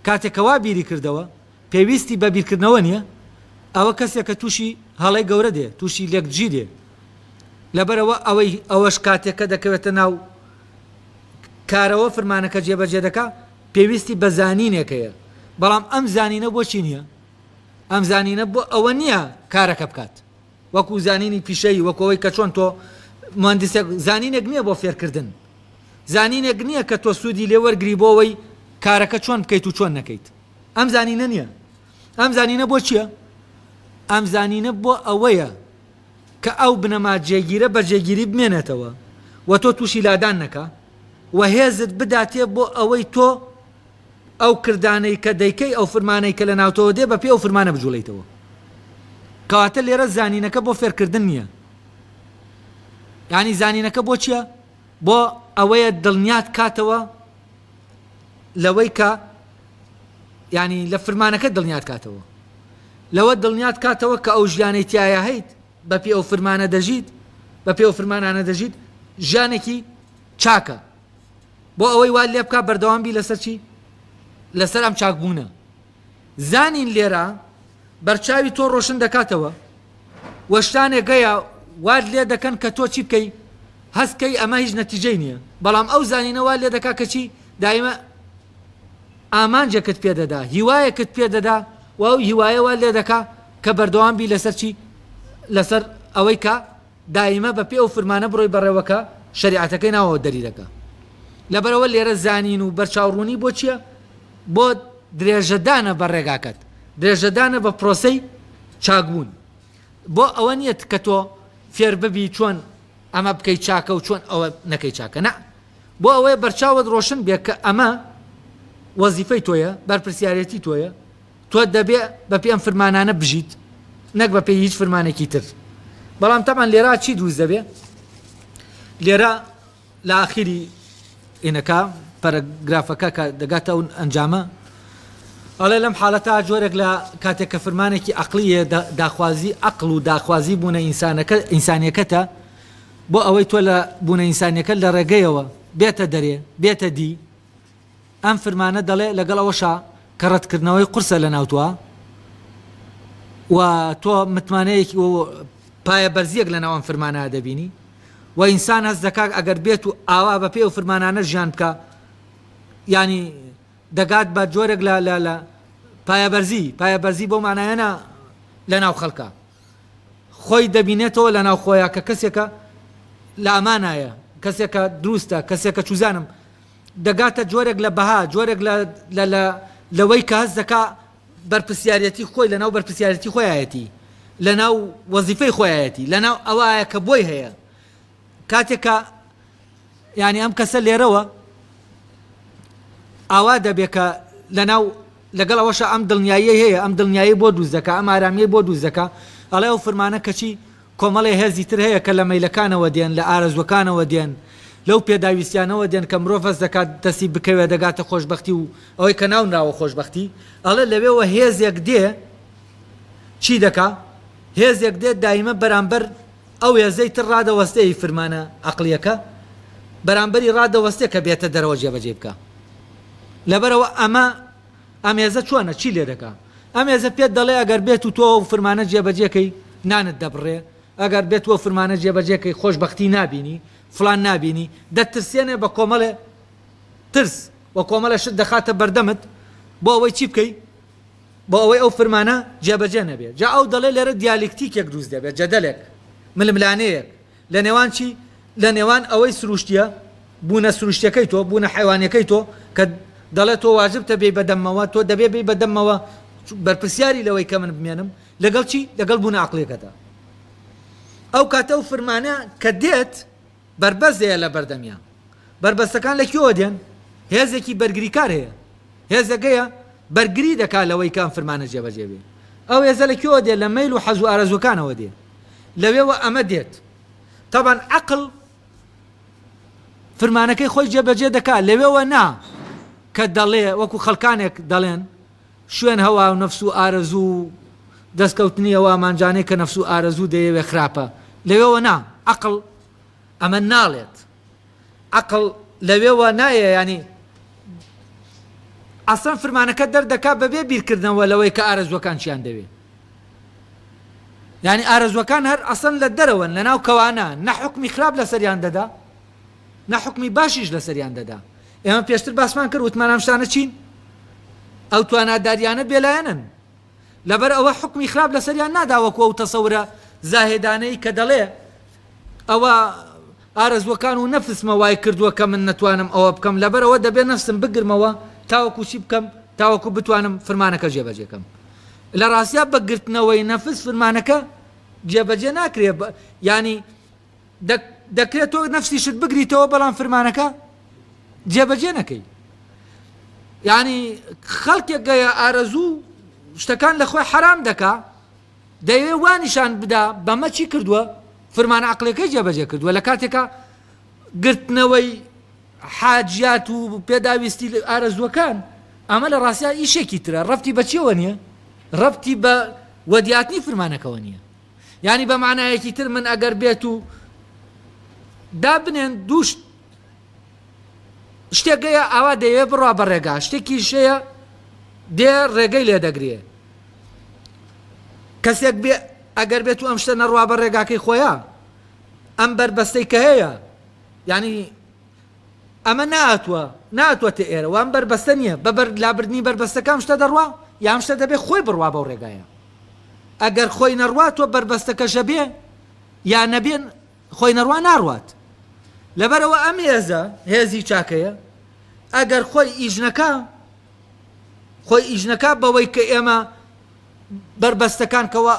کاتێکەوە بیری کردەوە پێویستی بە بیرکردنەوە نییە، ئەوە کەسێک کە تووشی هەڵەی گەورە دێ، تووشی لێکدژی دێ، لەبەرئەوە ئەوەی ئەوەش کاتێک کە دەکەوێتە ناو کارەوە فرمانەکە جێبەجێ دەکا پێویستی بە زانینێک هەیە، بەڵام ئەم زانینە بۆ چی نییە؟ ئەم زانینە بۆ ئەوە نییە کارەکە بکات وەکوو زانینی پیشەیی، وەکوو ئەوەی کە چۆن تۆ موهەندیسێک زانینێک نییە بۆ فێرکردن، زانینێک نییە کە تۆ سوودی لێ وەرگری بۆ ئەوەی کارەکە چۆن بکەیت و چۆن نەکەیت. ئەم زانینە نییە. ئەم زانینە بۆ چییە؟ ئەم زانینە بۆ ئەوەیە کە ئەو بنەما جێگیرە بە جێگیری بمێنێتەوە و تۆ تووشی لادان نەکا و هێزت بداتێ بۆ ئەوەی تۆ ئەو کردانەی کە دەیکەی ئەو فرمانەی کە لە ناوتەوە دێ بە پێ ئەو فرمانە بجوڵێیتەوە. کەواتە لێرە زانینەکە بۆ فێرکردن نییە. یانی زانینەکە بۆ چییە؟ بۆ ئەوەیە دڵنیات کاتەوە لەوەی کە یانی لە فرمانەکە دڵنیات کاتەوە لەوە دڵنیات کاتەوە کە ئەو ژیانەی تایە هەیت بە پێ ئەو فرمانە دەژیت بە پێ فرمانانە دەژیت ژیانێکی چاکە بۆ ئەوەی وا لێ بک بەردەوام بی لەسەر چی لەسەر ئەم چاکبوونە زانین لێرە بەرچاوی تۆ ڕۆشن دەکاتەوە و شتانێک گەیە واد لێ دەکەن کە تۆ چی بکەی هەستکەی ئەمە هیچ نەتیجەی نییە بەڵام ئەو زانینەوە لێ دەکا کەچی دایمە ئامانجێکت پێدەدا هیوایەکت پێدەدا و ئەو هیوایەوە لێ دەکا کە بەردەوام بی لەسەر چی لەسەر ئەوەی کە دایمە بە پێ ئەو فرمانە بڕۆی بەڕێوە کە شەریعەتەکەی ناوەوە دەری دەکا لەبەرئەوە لێرە زانین و بەرچاو ڕوونی بۆ چیە بۆ درێژەدانە بە ڕێگاکەت درێژەدانە بە پرۆسەی چاکبوون بۆ ئەوە نیە کە تۆ فێر ببی چۆن ئەمە بکەی چاکە و چۆن ئەوە نەکەی چاکە نە بۆ ئەوەیە بەرچاوت ڕۆشن بێ کە ئەمە وەزیفەی تۆیە بەرپرسیارەتی تۆیە تۆ دەبێ بەپێی ئەم فرمانانە بژیت نەک بەپێی هیچ فرمانێکی تر بەڵام تەبان لێرا چی دروست دەبێ لێرە لە ئاخیری ئینەکە پەرەگرافەکە کە دەگاتە ئەو ئەنجامە ئەڵێ لەم حالەتا جۆرێک لە کاتێک کە فرمانێکی عقلیە داخوازی عقل و داخوازی بوونە ئینسانەکە ئینسانیەکەتە بۆ ئەوەی تۆ لە بوونە ئینسانیەکە لە ڕێگەیەوە بێتە دەرێ بێتە دی ئەم فرمانە دەڵێ لەگەڵ ئەوەشا کە ڕەتکردنەوەی قورسە لە ناوتوە و تۆ متمانەیەکی و پایەبەرزیەک لەناو ئەم فرمانە دەبینی و ئینسان هەست دەکا ئەگەر بێت و ئاوا بەپێی ئەو فرمانانە ژیان بکا یانی دەگات بە جۆرێک لە لە لە پایەبەرزی پایەبەرزی بەو مانایەنە لەناو خەڵکە خۆی دەبینێتەوە لەناو خۆیان کە کەسێکە لە ئەمانایە کەسێکە دروستە کەسێکە چوزانم دەگاتە جۆرێک لە بەها، جۆرێک لە لە لە لەوەی کە هەست دەکا بەرپرسیاریەتی خۆی لەناو بەرپرسیارەتی خۆیایەتی، لەناو وەزیفەی خۆیایەتی، لەناو ئەوایە کە بۆی هەیە. کاتێک کە یانی ئەم کەسە لێرەوە ئاوا دەبێ کە لەناو لەگەڵ ئەوەشە ئەم دڵنیاییەی هەیە، ئەم دڵنیایی بۆ دروست دەکا، ئەم ئارامیەی بۆ دروست دەکا، ئەڵێ ئەو فرمانە کەچی، کۆمەڵێ هێزی تر هەیە کە لە مەیلەکانەوە دێن، لە ئارەزووەکانەوە دێن، لەو پێداویستیانەوە دێن کە مرۆڤ هەست دەکات دەستی بکەوێ دەگاتە خۆشبەختی و ئەوەی کە ناونراوە خۆشبەختی، ئەڵێ لەوێوە هێزێک دێ چی دەکا؟ هێزێک دێ دایمە بەرامبەر ئەو هێزەی تر ڕادەوەستێ ی فرمانە عەقڵییەکە بەرامبەری ڕادەوەستێ کە بێتە دەرەوە جێبەجێی بکا. لەبەرئەوە ئەمە. ئەم هێزە چۆنە؟ چی لێ دەکا؟ ئەم هێزە پێت دەڵێ ئەگەر بێت و تۆ ئەو فرمانە جێبەجێ کەی، نانت دەبڕێ، ئەگەر بێت و ئەو فرمانە جێبەجێ کەی خۆشبەختی نابینی، فڵان نابینی، دەتترسێنێ بە کۆمەڵێ ترس و کۆمەڵێ شت دەخاتە بەردەمت بۆ ئەوەی چی بکەی؟ بۆ ئەوەی ئەو فرمانە جێبەجێ نەبێ. جا ئەو دەڵێ لێرە دیالیکتیکێک دروست دەبێ، جەدەلێک، ململانێیەک. لە نێوان چی؟ لە نێوان ئەوەی سروشتیە، بوونە سروشتیەکەی تۆ، بوونە حەیوانیەکەی تۆ، کە دەڵێت تۆ واجبتە بێی بە دەممەوە، تۆ دەبێت بێی بە دەممەوە، بەرپرسیاری لەوەی کە من بمێنم، لەگەڵ چی؟ لەگەڵ بوونە عەقڵیەکەدا. ئەو کاتە ئەو فرمانە کە دێت، بەربەست دەیە لە بەردەمیان. بەربەستەکان لە کوێوە دێن؟ هێزێکی بەرگریکار هەیە. هێزێک هەیە بەرگری دەکات لەوەی کە ئەم فرمانە جێبەجێ بێت. ئەو هێزە لە کوێوە دێت؟ لە مەیل و حەز و ئارەزووەکانەوە دێت. لەوێوە ئەمە دێت تەبان عەقڵ فرمانەکەی خۆی جێبەجێ دەکات لەوێوە نا کە دەڵێ وەکو خەڵکانێک دەڵێن شوێن هەوا و نەفس و ئارەزوو و دەستکەوتنیەوە مانجانەی کە نەفس و ئارەزوو دەیەوێ خراپە لەوێوە نا عەقڵ ئەمە ناڵێت عەقڵ لەوێوە نایە یانی ئەسڵەن فرمانەکە دەردەکا بەبێ بیرکردنەوە لەوەی کە ئارەزوەکان چیان دەوێ یعنی ئارەزوەکان هەر ئەسڵەن لە دەرەوەن لە ناو کەوانە نە حکمی خراپ لەسەریان دەدا نە حکمی باشیش لەسەریان دەدا ئێمە پێشتر باسمان کرد وتمان ئەم شتانە چین ئەو تواناداریانە بێلایەنن لەبەر ئەوە حوکمی خراپ لەسەریان نادا وەکو ئەو تەسەورە زاهێدانەی کە دەڵێ ئەوە ئارەزوەکان و نەفسمە وای کردووە کە من نەتوانم ئەوە بکەم لەبەر ئەوە دەبێت نەفسم بگرمەوە تاوەکو چی بکەم تاوەکو بتوانم فرمانەکە جێبەجێکەم لە ڕاستیا بەگرتنەوەی نەفس فرمانەکە جێبەجێ ناکرێ ینی دەک دەکرێت تۆ نەفسیشت بگریتەوە بەڵام فرمانەکە جێبەجێ نەکەی یعنی خەڵکێک گەیە ئارەزوو شتەکان لە خۆی حرام دەکا دەیەوێ وانیشان بدا بەمە چی کردووە فرمان عقلەکەی جێبەجێ کردووە لە کاتێکە گرتنەوەی حاجات و پێداویستی ئارەزوەکان ئەمە لە ڕاستیا ئیشێکی ترە ڕفتی بەچیەوە نییە ڕفتی بە وەدیاتنی فرمانەکەەوە نییە یانی بە مانایەکی تر من ئەگەر بێت و دابنێن دوو شت شتێک گەیە ئاوا دەیەوێ بڕا بە ڕێگا شتێکیش هەیە دێ ڕێگەی لێ دەگرێ کەسێک بێ ئەگەر بێت و ئەم شتە نەڕوا بە ڕێگاکەی خۆیە ئەم بەربەستەی کە هەیە ینی ئەمە ناتوە ناتوەتە ئێرە وام بەربەستە نییە بە بەر لابردنی بەربەستەکەم شتە دەڕوا یام شتە دەبێت خۆی بڕوا بەو ڕێگایە ئەگەر خۆینەڕوا تۆ بەربەستەکە ژەبێ یا نەبێ خۆینەڕوا ناڕوات لەبەرەوە ئەم هێزە هێزی چاکەیە ئەگەر خۆی ئیژنەکە خۆی ئیژنەکە بەوەی کە ئێمە بەربەستەکان کەەوە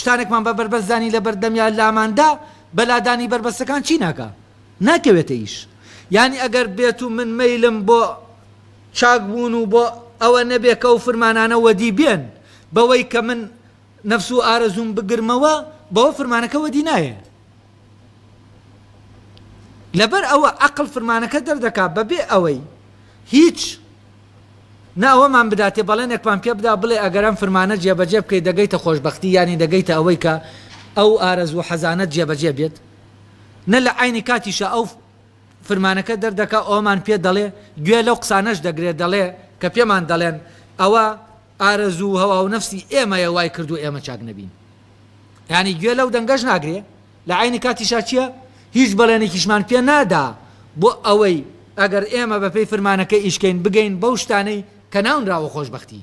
شتانێکمان بە بەربەستدانی لە بەردەمیا لاماندا بەلادانی بەربەستەکان چی ناکە ناکەوێتە ئیش ینی ئەگەر بێت و من میلم بۆ چاک بوون و بۆ ئەوە نەبێ کە ئەو فرمانانە وەدی بێن، بەوەی کە من نەفس و ئارەزووم بگرمەوە، بەوە فرمانەکە وەدی نایێ. لەبەر ئەوە عەقڵ فرمانەکە دەردەکا بەبێ ئەوەی هیچ نە ئەوەمان بداتێ بەڵێنێکمان پێ بدا بڵێ ئەگەر ئەم فرمانە جێبەجێ بکەی دەگەیتە خۆشبەختی یانی دەگەیتە ئەوەی کە ئەو ئارەزوو و حەزانەت جێبەجێ بێت، نە لە عەینی کاتیشا ئەو فرمانەکە دەردەکا ئەوەمان پێ دەڵێ گوێ لەو قسانەش دەگرێ دەڵێ کە پێمان دەڵێن ئەوە ئارەزوو و هەوا و نەفسی ئێمەیە وای کردووە ئێمە چاک نەبین یانی گوێ لەو دەنگەش ناگرێ لە عینی کاتیشا چییە هیچ بەڵێنێکیشمان پێ نادا بۆ ئەوەی ئەگەر ئێمە بەپێی فرمانەکە ئیشکەین بگەین بەو شتانەی کە ناونراوە خۆشبەختی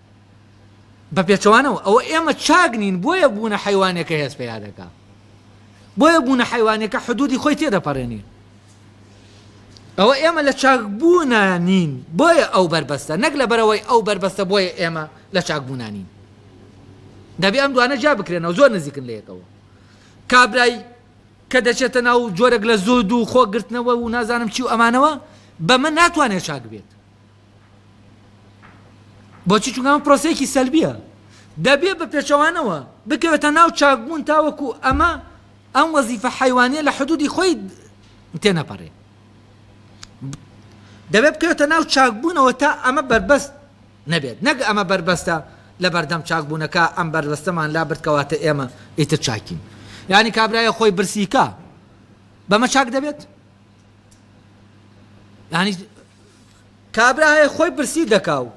بە پێچەوانەوە ئەوە ئێمە چاک نین بۆیە بوونە حەیوانەکە هێز پەیا دەکا بۆیە بوونە حەیوانەکە حدودی خۆی تێدەپەڕێنی ئەوە ئێمە لە چاک بوونە نین بۆیە ئەو بەربەستە نەک لە بەرەوەی ئەو بەربەستە بۆیە ئێمە لە چاک بوونانین دەبێ ئەم دوانە جا بکرێنەوە زۆر نزیکن لە یەکەوە کابرای کە دەچێتە ناو جۆرەك لە زۆد و خۆگرتنەوە و نازانم چی و ئەمانەوە بەمە ناتوانێت چاک بێت بۆچی چونکە ئەمە پرۆسەیەکی سەلبیە دەبێ بە پێچەوانەوە بکەوێتە ناو چاکبوون تاوەکو ئەمە ئەم وەزیفە حیوانە لە حدودی خۆی تێنەپەڕێ دەبێت بکەوێتە ناو چاکبوونەوە تا ئەمە بەربەست نەبێت نەک ئەمە بەربەستە لە بەردەم چاکبوونەکە ئەم بەربەستەمان لا بردکەواتە ئێمە ئیتر چاکین یعنی کابراایە خۆی برسیکە بەمە چاک دەبێت یعنی کابرا هەیە خۆی برسی دەکا و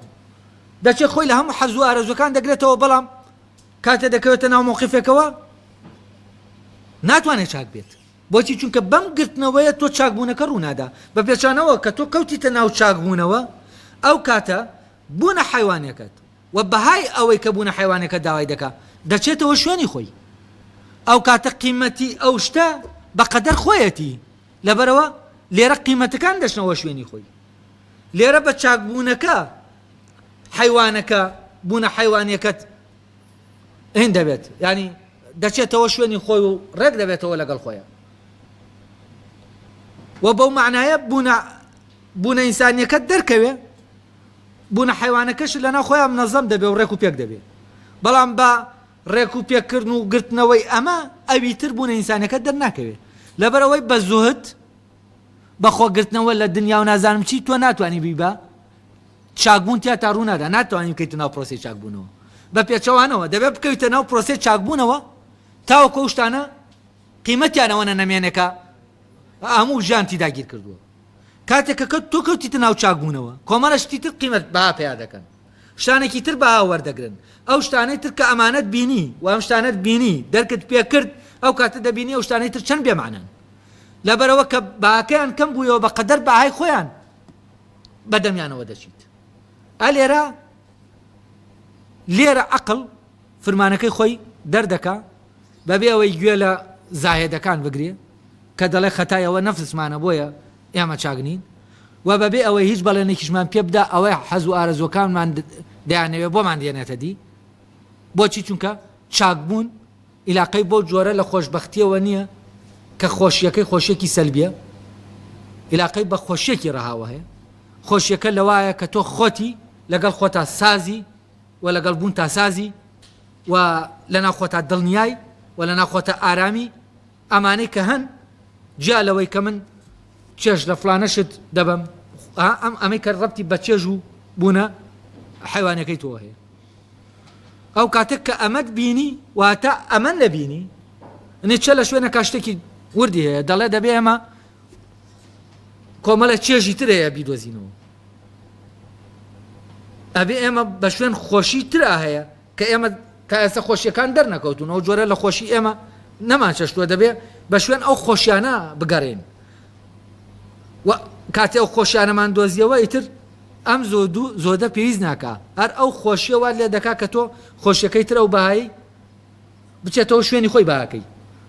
دەچێت خۆی لە هەموو حەزوو ئارەزوەکان دەگرێتەوە بەڵام کاتێ دەکەوێتە ناو مۆقیفێکەوە ناتوانێت چاک بێت بۆچی چونکە بەم گرتنەوەیە تۆ چاکبوونەکە ڕوونادا بە پێچانەوە کە تۆ کەوتیتە ناو چاکبوونەوە ئەو کاتە بوونە حیوانەکەت وە بەهای ئەوەی کە بوونە حەیوانەکە داوای دەکا دەچێتەوە شوێنی خۆی ئەو کاتە قیمەتی ئەو شتە بە قەدەر خۆیەتی لەبەرەوە لێرە قیمەتەکان دەچنەوە شوێنی خۆی لێرە بە چاکبوونەکە حەیوانەکە بوونە حەیوانەکەت هند دەبێت ینی دەچێتەوە شوێنی خۆی و ڕێک دەبێتەوە لەگەڵ خۆیان و بەو معناە بوونە بوونە ئینسانیەکە دەرکەوێ بوونە حەیوانەکەشت لەناو خۆیان منەزەم دەبێ و ڕێک و پێک دەبێ بەڵام بە ڕێک و پێکردن و گرتنەوەی ئەمە ئەوی تر بوونە ئینسانەکە دەرناکەوێ لەبەرەوەی بە زوهد بەخۆگرتنەوە لە دنیا و نازانم چی تۆ ناتوانانی بی بە چاکبوون تیا تا ڕوونادا ناتوانین بکەیت ناو پرۆسی چاکبوونەوە بە پێچەوانەوە دەبێت بکەویتە ناو پرۆسی چاکبوونەوە تاوە کۆشتانە قیمەتیانەوەە نەمێنەکە هەموو ژیانتی داگیر کردووە کاتێک کە کەوت تۆ کەوتیتە ناو چاک بوونەوە کۆمەڵە شتی تر قیمەت بەها پیا دەکەن شتانێکی تر بەها وەردەگرن ئەو شتانەی تر کە ئەمانەت بینی و ئەم شتانەت بینی دەرکت پێ کرد ئەو کاتە دەبینی ئەو شتانەی تر چەند بێمانن لەبەرەوە کە باکەیان کەم بوویەوە بە قەدەر بەهای خۆیان بەدەمیانەوە دەچیت ئەلێرە لێرە عقل فرمانەکەی خۆی دەردەکا بەبێ ئەوەی گوێ لە زاهێدەکان بگرێ کە دەڵێ خەتای ئەوە نەفسمانە بۆیە ئێمە چاک نین و بەبێ ئەوەی هیچ بەڵێنێکیشمان پێ بدا ئەوە حەز و ئارەزوەکانمان دەیانەوێ بۆمان دێنێتە دی بۆچی چونکە چاکبوون ئیلاقەی بۆ جۆرە لە خۆشببختیەوە نییە کە خۆشیەکەی خۆشیەکی سەلبیە ئیلاقەی بە خۆشیەکی ڕەهاوە هەیە خۆشیەکە لەوایە کە تۆ خۆتی لەگەڵ خۆتا سازی وە لەگەڵ بوونتا سازی و لەناو خۆتا دڵنیای و لەناو خۆتا ئارامی ئەمانەی کە هەن جیا لەوەی کە من چێژ لە فڵانە شت دەبەم ئەم ئەمەی کە ڕەبتی بە چێژ و بوونە حیوانەکەی تۆ هەیە ئەو کاتێک کە ئەمەت بینی واتە ئەمە نەبینی نێچە لە شوێنە کاشتێکی وردی هەیە دەڵێ دەبێ ئەمە کۆمەڵە چێژی ترەیە بیدۆزینەوە ئەبێ ئێمە بە شوێن خۆشی ترا هەیە کە ئێمە تا ئێستا خۆشیەکان دەرنەکەوتون ئەو جۆرە لە خۆشی ئێمە نەمان چەشتوە دەبێ بە شوێن ئەو خۆشیانە بگەڕین و کاتی ئەو خۆشیانەمان دۆزیەوە ئیتر ئەم زۆ دوو زۆدە پێویست ناکە هەر ئەو خۆشیەوە لێ دەکا کە تۆ خۆشیەکەی تر ئەو بەهایی بچێتەوە شوێنی خۆی باکەی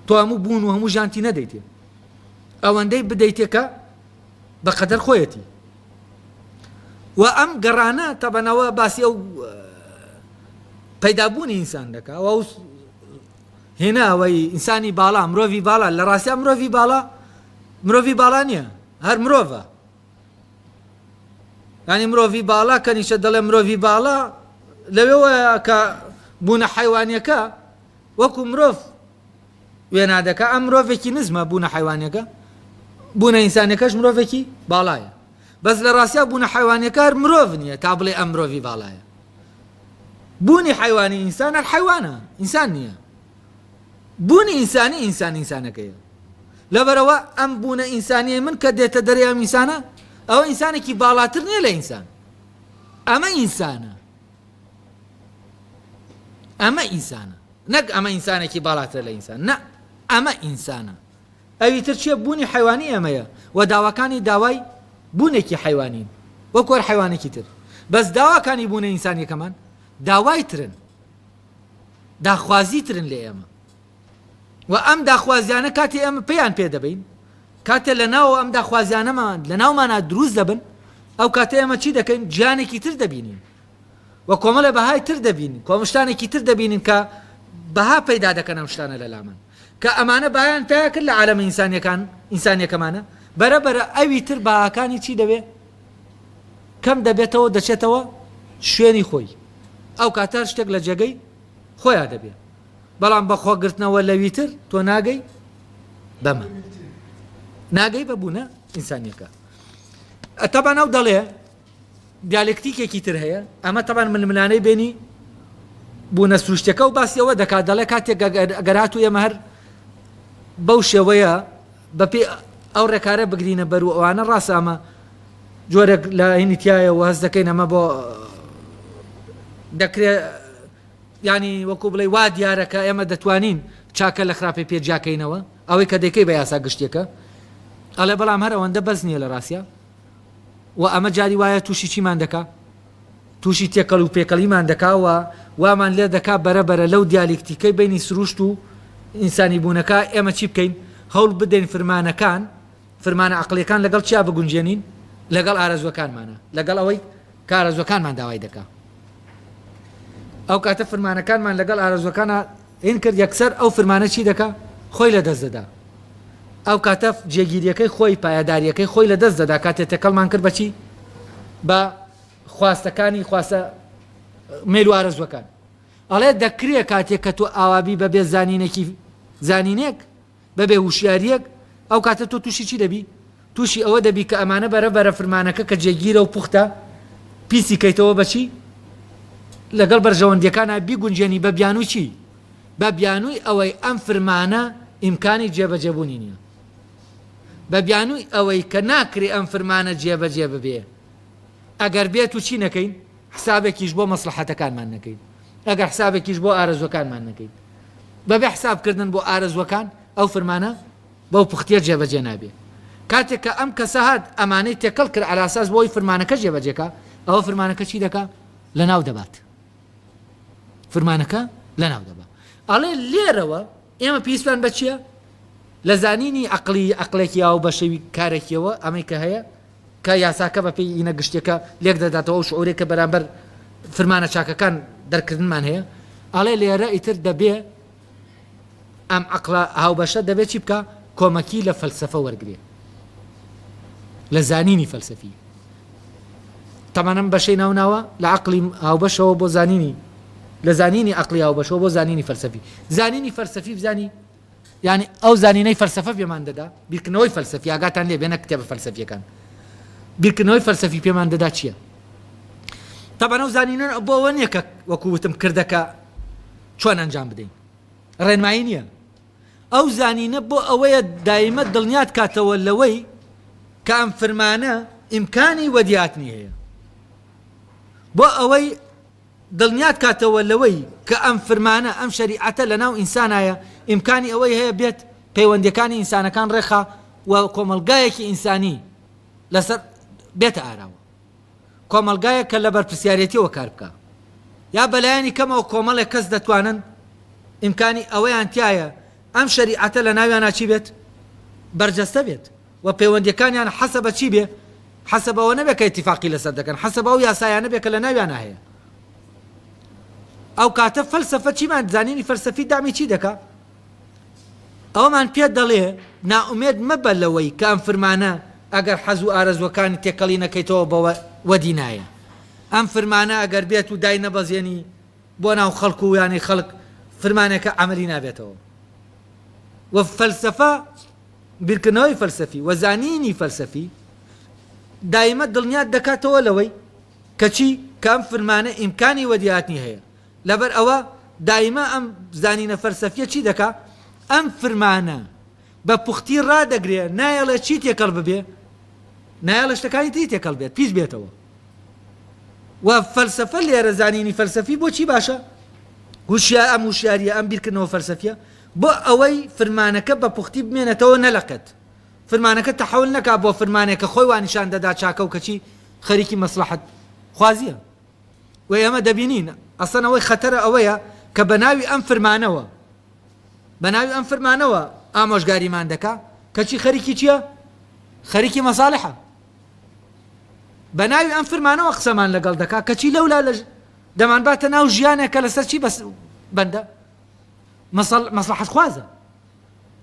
تۆ هەموو بوون و هەموو ژانتی نەدەیتێ ئەوەندەی بدەیتێکە بە قەدەر خۆیەتی و ئەم گەڕانە تەبەنەوە باسی ئەو پەیدابوونی ئینسان دەکا و هێنا ئەوەی ئینسانی باڵا مرۆڤی باڵا لە ڕاستە مرۆڤی باڵا مرۆڤی باڵا نییە هەر مرۆڤە ینی مرۆڤی باڵا کە نیشە دەڵێ مرۆڤی باڵا لەوێەوە کە بوونە حیوانیەکە وەکو مرۆڤ وێنا دەکا ئەم مرۆڤێکی نزمە بوونە حەیوانیەکە بوونە ئینسانەکەش مرۆڤێکی باڵایە بەس لە ڕاستیا بوونە حەیوانەکار مرۆڤ نییە تا بڵێ ئەم مرۆڤی باڵایە بوونی حیوانی ئینسان هەر حیوانە ئینسان نییە بوونی ئینسانی ئینسان ئینسانەکەیە لەبەرەوە ئەم بوونە ئینسانیە من کە دێتە دەریا ئینسانە ئەوە ئینسانێکی باڵاتر نییە لە ئینسان ئەمە ئینسانە ئەمە ئینسانە نەک ئەمە ئینسانێکی باڵاتر لە ئینسان نە ئەمە ئینسانە ئەوی تر چیە بوونی حیوانی ئەمەیە و داواکانی داوای بوونێکی حیوانین وە کۆر حیوانێکی تر بەس داواکانی بوونە ئینسانیەکەمان داوای ترن داخوازی ترن لە ئێمە و ئەم داخوازیانە کاتێ ئێمە پێیان پێ دەبەین، کاتێ لە ناوەوە ئەم داخوازیانەمان لە ناومانا دروست دەبن، ئەو کاتە ئێمە چی دەکەین؟ ژیانێکی تر دەبینین و کۆمەڵێ بەهای تر دەبینین، کۆمەڵ شتانێکی تر دەبینین کە بەها پەیدا دەکەن ئەم شتانە لە لامان، کە ئەمانە بەهایان پەیا کرد لە عالەمە ئینسانیەکان، ئینسانیەکەمانا، بەرە بەرە ئەوی تر بەهاکانی چی دەبێ؟ کەم دەبێتەوە و دەچێتەوە شوێنی خۆی، ئەو کاتە هەر شتێک لە جێگەی خۆیا دەبێ. بەڵام بە خۆگرتنەوە لەویتر تۆ ناگەی بەمە ناگەی بە بوونە ئینسانیەکە ئەتەبان ئەو دەڵێ دیالکتیکێکی تر هەیە ئەمە تەبان ململانەی بینی بوونە سروشتەکە و باسیەوە دەکات دەڵێ کاتێک گەرات و ئێمە هەر بەو شێوەیە بەپی ئەو ڕێکارە بگرینە بەر و ئەوانە ڕاستامە جۆرێک لە هینی تایە و هەز دەکەین ئەمە بۆ دەکرێت یانی وەکو بڵێی وا دیارە کە ئێمە دەتوانین چاکە لە خراپەی پێ جیاکەینەوە، ئەوەی کە دەیکەی بە یاسا گشتیەکە ئەڵێ بەڵام هەر ئەوەندە بەس نیە لە ڕاستیا و ئەمە جاری وایە توشی چیمان دەکا توشی تێکەڵ و پێکەڵیمان دەکا و وامان لێ دەکا بەرە بەرە لەو دیالیکتیکەی بینی سروشت و ئینسانی بوونەکە ئێمە چی بکەین هەوڵ بدەین فرمانەکان فرمانە عەقڵیەکان لەگەڵ چیا بگونجێنین لەگەڵ ئارەزوەکانمانا لەگەڵ ئەوەی کارەزوەکانمان داوای دەکا ئەوکاتە فرمانەکانمان لەگەڵ ئارەزوەکانا ین کرد یەکسەر ئەو فرمانە چی دەکا خۆی لەدەست دەدا ئەوکاتە جێگیریەکەی خۆی پایەداریەکەی خۆی لەدەست دەدا کاتێ تێکەڵمان کرد بەچی بە خواستەکانی خواستە مێل و ئارەزوەکان ئەڵێ دەکرێ کاتێک کە تۆ ئاوابی بەبێ زانینێکی زانینێک بەبێ وشیاریەک ئەو کاتە تۆ توشی چی دەبی؟ توشی ئەوە دەبی کە ئەمانە بەرە بەرە فرمانەکە کە جێگیرە و پوختە پیسی کەیتەوە بە چی؟ لەگەڵ بەرژەوەندیەکانا بیگونجێنی بە بیانوی چی؟ بە بیانوی ئەوەی ئەم فرمانە ئیمکانی جێ بەجێ بونی نیە. بە بیانوی ئەوەی کە ناکرێ ئەم فرمانە جێ بەجێ ببێ. ئەگەر بێت و چی نەکەین؟ حسابێکیش بۆ مەسڵەحەتەکانمان نەکەین، ئەگەر حسابێکیش بۆ ئارەزووەکانمان نەکەین، بەبێ حسابکردن بۆ ئارەزووەکان ئەو فرمانە بەو پوختیە جێبەجێ نابێ. کاتێک کە ئەم کەسە هات ئەمانەی تێکەڵ کرد عەلاساس بۆ ئەوەی فرمانەکە جێبەجێ کا، ئەوە فرمانەکە چی دەکا؟ لەناو دەبات. فرمانەکە لەناو دەبا. ئەڵێ لێرەوە ئێمە پێویستمان بە چیە؟ لە زانینی عەقڵی، عەقڵێکی ئاوبەشەوی کارێکیەوە ئەمەی کە هەیە، کە یاساکە بە پێی ئینە گشتیەکە لێک دەداتەوە ئەو شعورەی کە بەرامبەر فرمانە چاکەکان دەرککردنمان هەیە ئەڵێ لێرە ئیتر دەبێ ئەم عەقڵە هاوبەشە دەبێ چی بکا کۆمەکی لە فەلسەفە وەرگرێ لە زانینی فەلسەفی تەمان ئەم بەشەی ناوناوە لە عەقڵی هاوبەشەوە بۆ زانینی لە زانینی عەقڵی هاوبەشەوە بۆ زانینی فەلسەفی زانینی فەلسەفی بزانی یانی ئەو زانینەی فەلسەفە پێمان دەدا، بیرکردنەوەی فەلسەفی، ئاگاتان لێبێ نەک کتێبە فەلسەفییەکان، بیرکردنەوەی فەلسەفی پێمان دەدا چییە؟ تەبعەن ئەو زانینە بۆ ئەوە نییە کە وەکو وتم کردەکە چۆن ئەنجام بدەین، ڕێنمایی نییە. ئەو زانینە بۆ ئەوەیە دایمە دڵنیات کاتەوە لەوەی کە ئەم فرمانە ئیمکانی وەدیهاتنی هەیە. بۆ ئەوەی. دڵنیات کاتەوە لەوەی کە ئەم فرمانە، ئەم شەریعەتە لەناو ئینسانایە، ئیمکانی ئەوەی هەیە بێت پەیوەندیەکانی ئینسانەکان ڕێکخا و کۆمەڵگایەکی ئینسانی لەسەر بێتە ئاراوە. کۆمەڵگایەک کە لەبەرپرسیارێتیەوە کار بکا. یا بەلایەنی کەمەوە کۆمەڵێک کەس دەتوانن ئیمکانی ئەوەیان تیایە ئەم شەریعەتە لەناویانا چی بێت؟ بەرجەستە بێت. و پەیوەندیەکانیان حەسە بە چی بێ؟ حەسە بەوە نەبێ کە ئیتیفاقی لەسەر دەکەن، حەسە بە ئەو یاسایانە بێ کە لە ناویانا هەیە. ئەو کاتە فەلسەفە چیمان، زانینی فەلسەفی دامی چی دەکا؟ ئەوەمان پێ دەڵێ نائومێد مەبە لەوەی کە ئەم فرمانە ئەگەر حەز و ئارەزووەکانی تێکەڵی نەکەیتەوە بەوە وەدی نایێ. ئەم فرمانە ئەگەر بێت و دای نەبەزێنی بۆ ناو خەڵک و یانەی خەڵک فرمانێکە عەمەلی نابێتەوە و فەلسەفە، بیرکردنەوەی فەلسەفی و زانینی فەلسەفی دایمە دڵنیات دەکاتەوە لەوەی کە چی کە ئەم فرمانە ئیمکانی وەدیهاتنی هەیە لەبەر ئەوە دایمە ئەم زانینە فەلسەفیە چی دەکا ئەم فرمانە بە پوختی ڕادەگرێ نایەڵێ چی تێکەڵ ببێ نایەڵە شتەکانی تری تێکەڵ بێت پیس بێتەوە و فەلسەفە لێرە زانینی فەلسەفی بۆچی باشە هوشیار ئەم وشیاریە ئەم بیرکردنەوە فەلسەفیە بۆ ئەوەی فرمانەکە بە پوختی بمێنێتەوە نەلەقێت فرمانەکە تەحول نەکات بۆ فرمانێک کە خۆی وا نیشان دەدات چاکە و کەچی خەریکی مەسڵەحەت خوازیە و ئێمە دەبینین ئەسڵەن ئەوەی خەتەرە ئەوەیە کە بە ناوی ئەم فرمانەوە بە ناوی ئەم فرمانەوە ئامۆژگاریمان دەکا کەچی خەریکی چییە خەریکی مەساڵحە بە ناوی ئەم فرمانەوە قسەمان لەگەڵ دەکا کەچی لەولا لە دەمان باتە ناو ژیانێکە لەسەر چی بەس بەندە مەسەڵ مەسلەحەت خوازە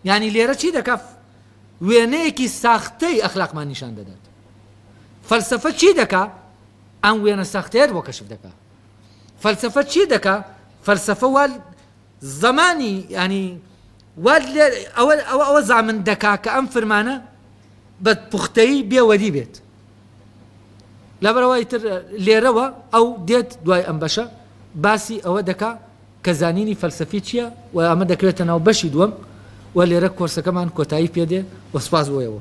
یعنی لێرە چی دەکا وێنەیەکی ساختەی ئەخلاقمان نیشان دەدات فەلسفە چی دەکا ئەم وێنە ساختەیە بۆ کەشف دەکا فەلسفە چی دەکا فەلسفە وا زمانی ینی وا ئەوە ئەوە ئەوە زامن دەکا کە ئەم فرمانە بە پوختەی بێوەری بێت لەبەرەوەی تر لێرەوە ئەو دێت دوای ئەم بەشە باسی ئەوە دەکا کە زانینی فەلسەفی چیە و ئەمە دەکەوێتە ناو بەشی دووەم و لێرە کۆرسەکەمان کۆتایی پێدێ و سوپاس بۆ ئێوە.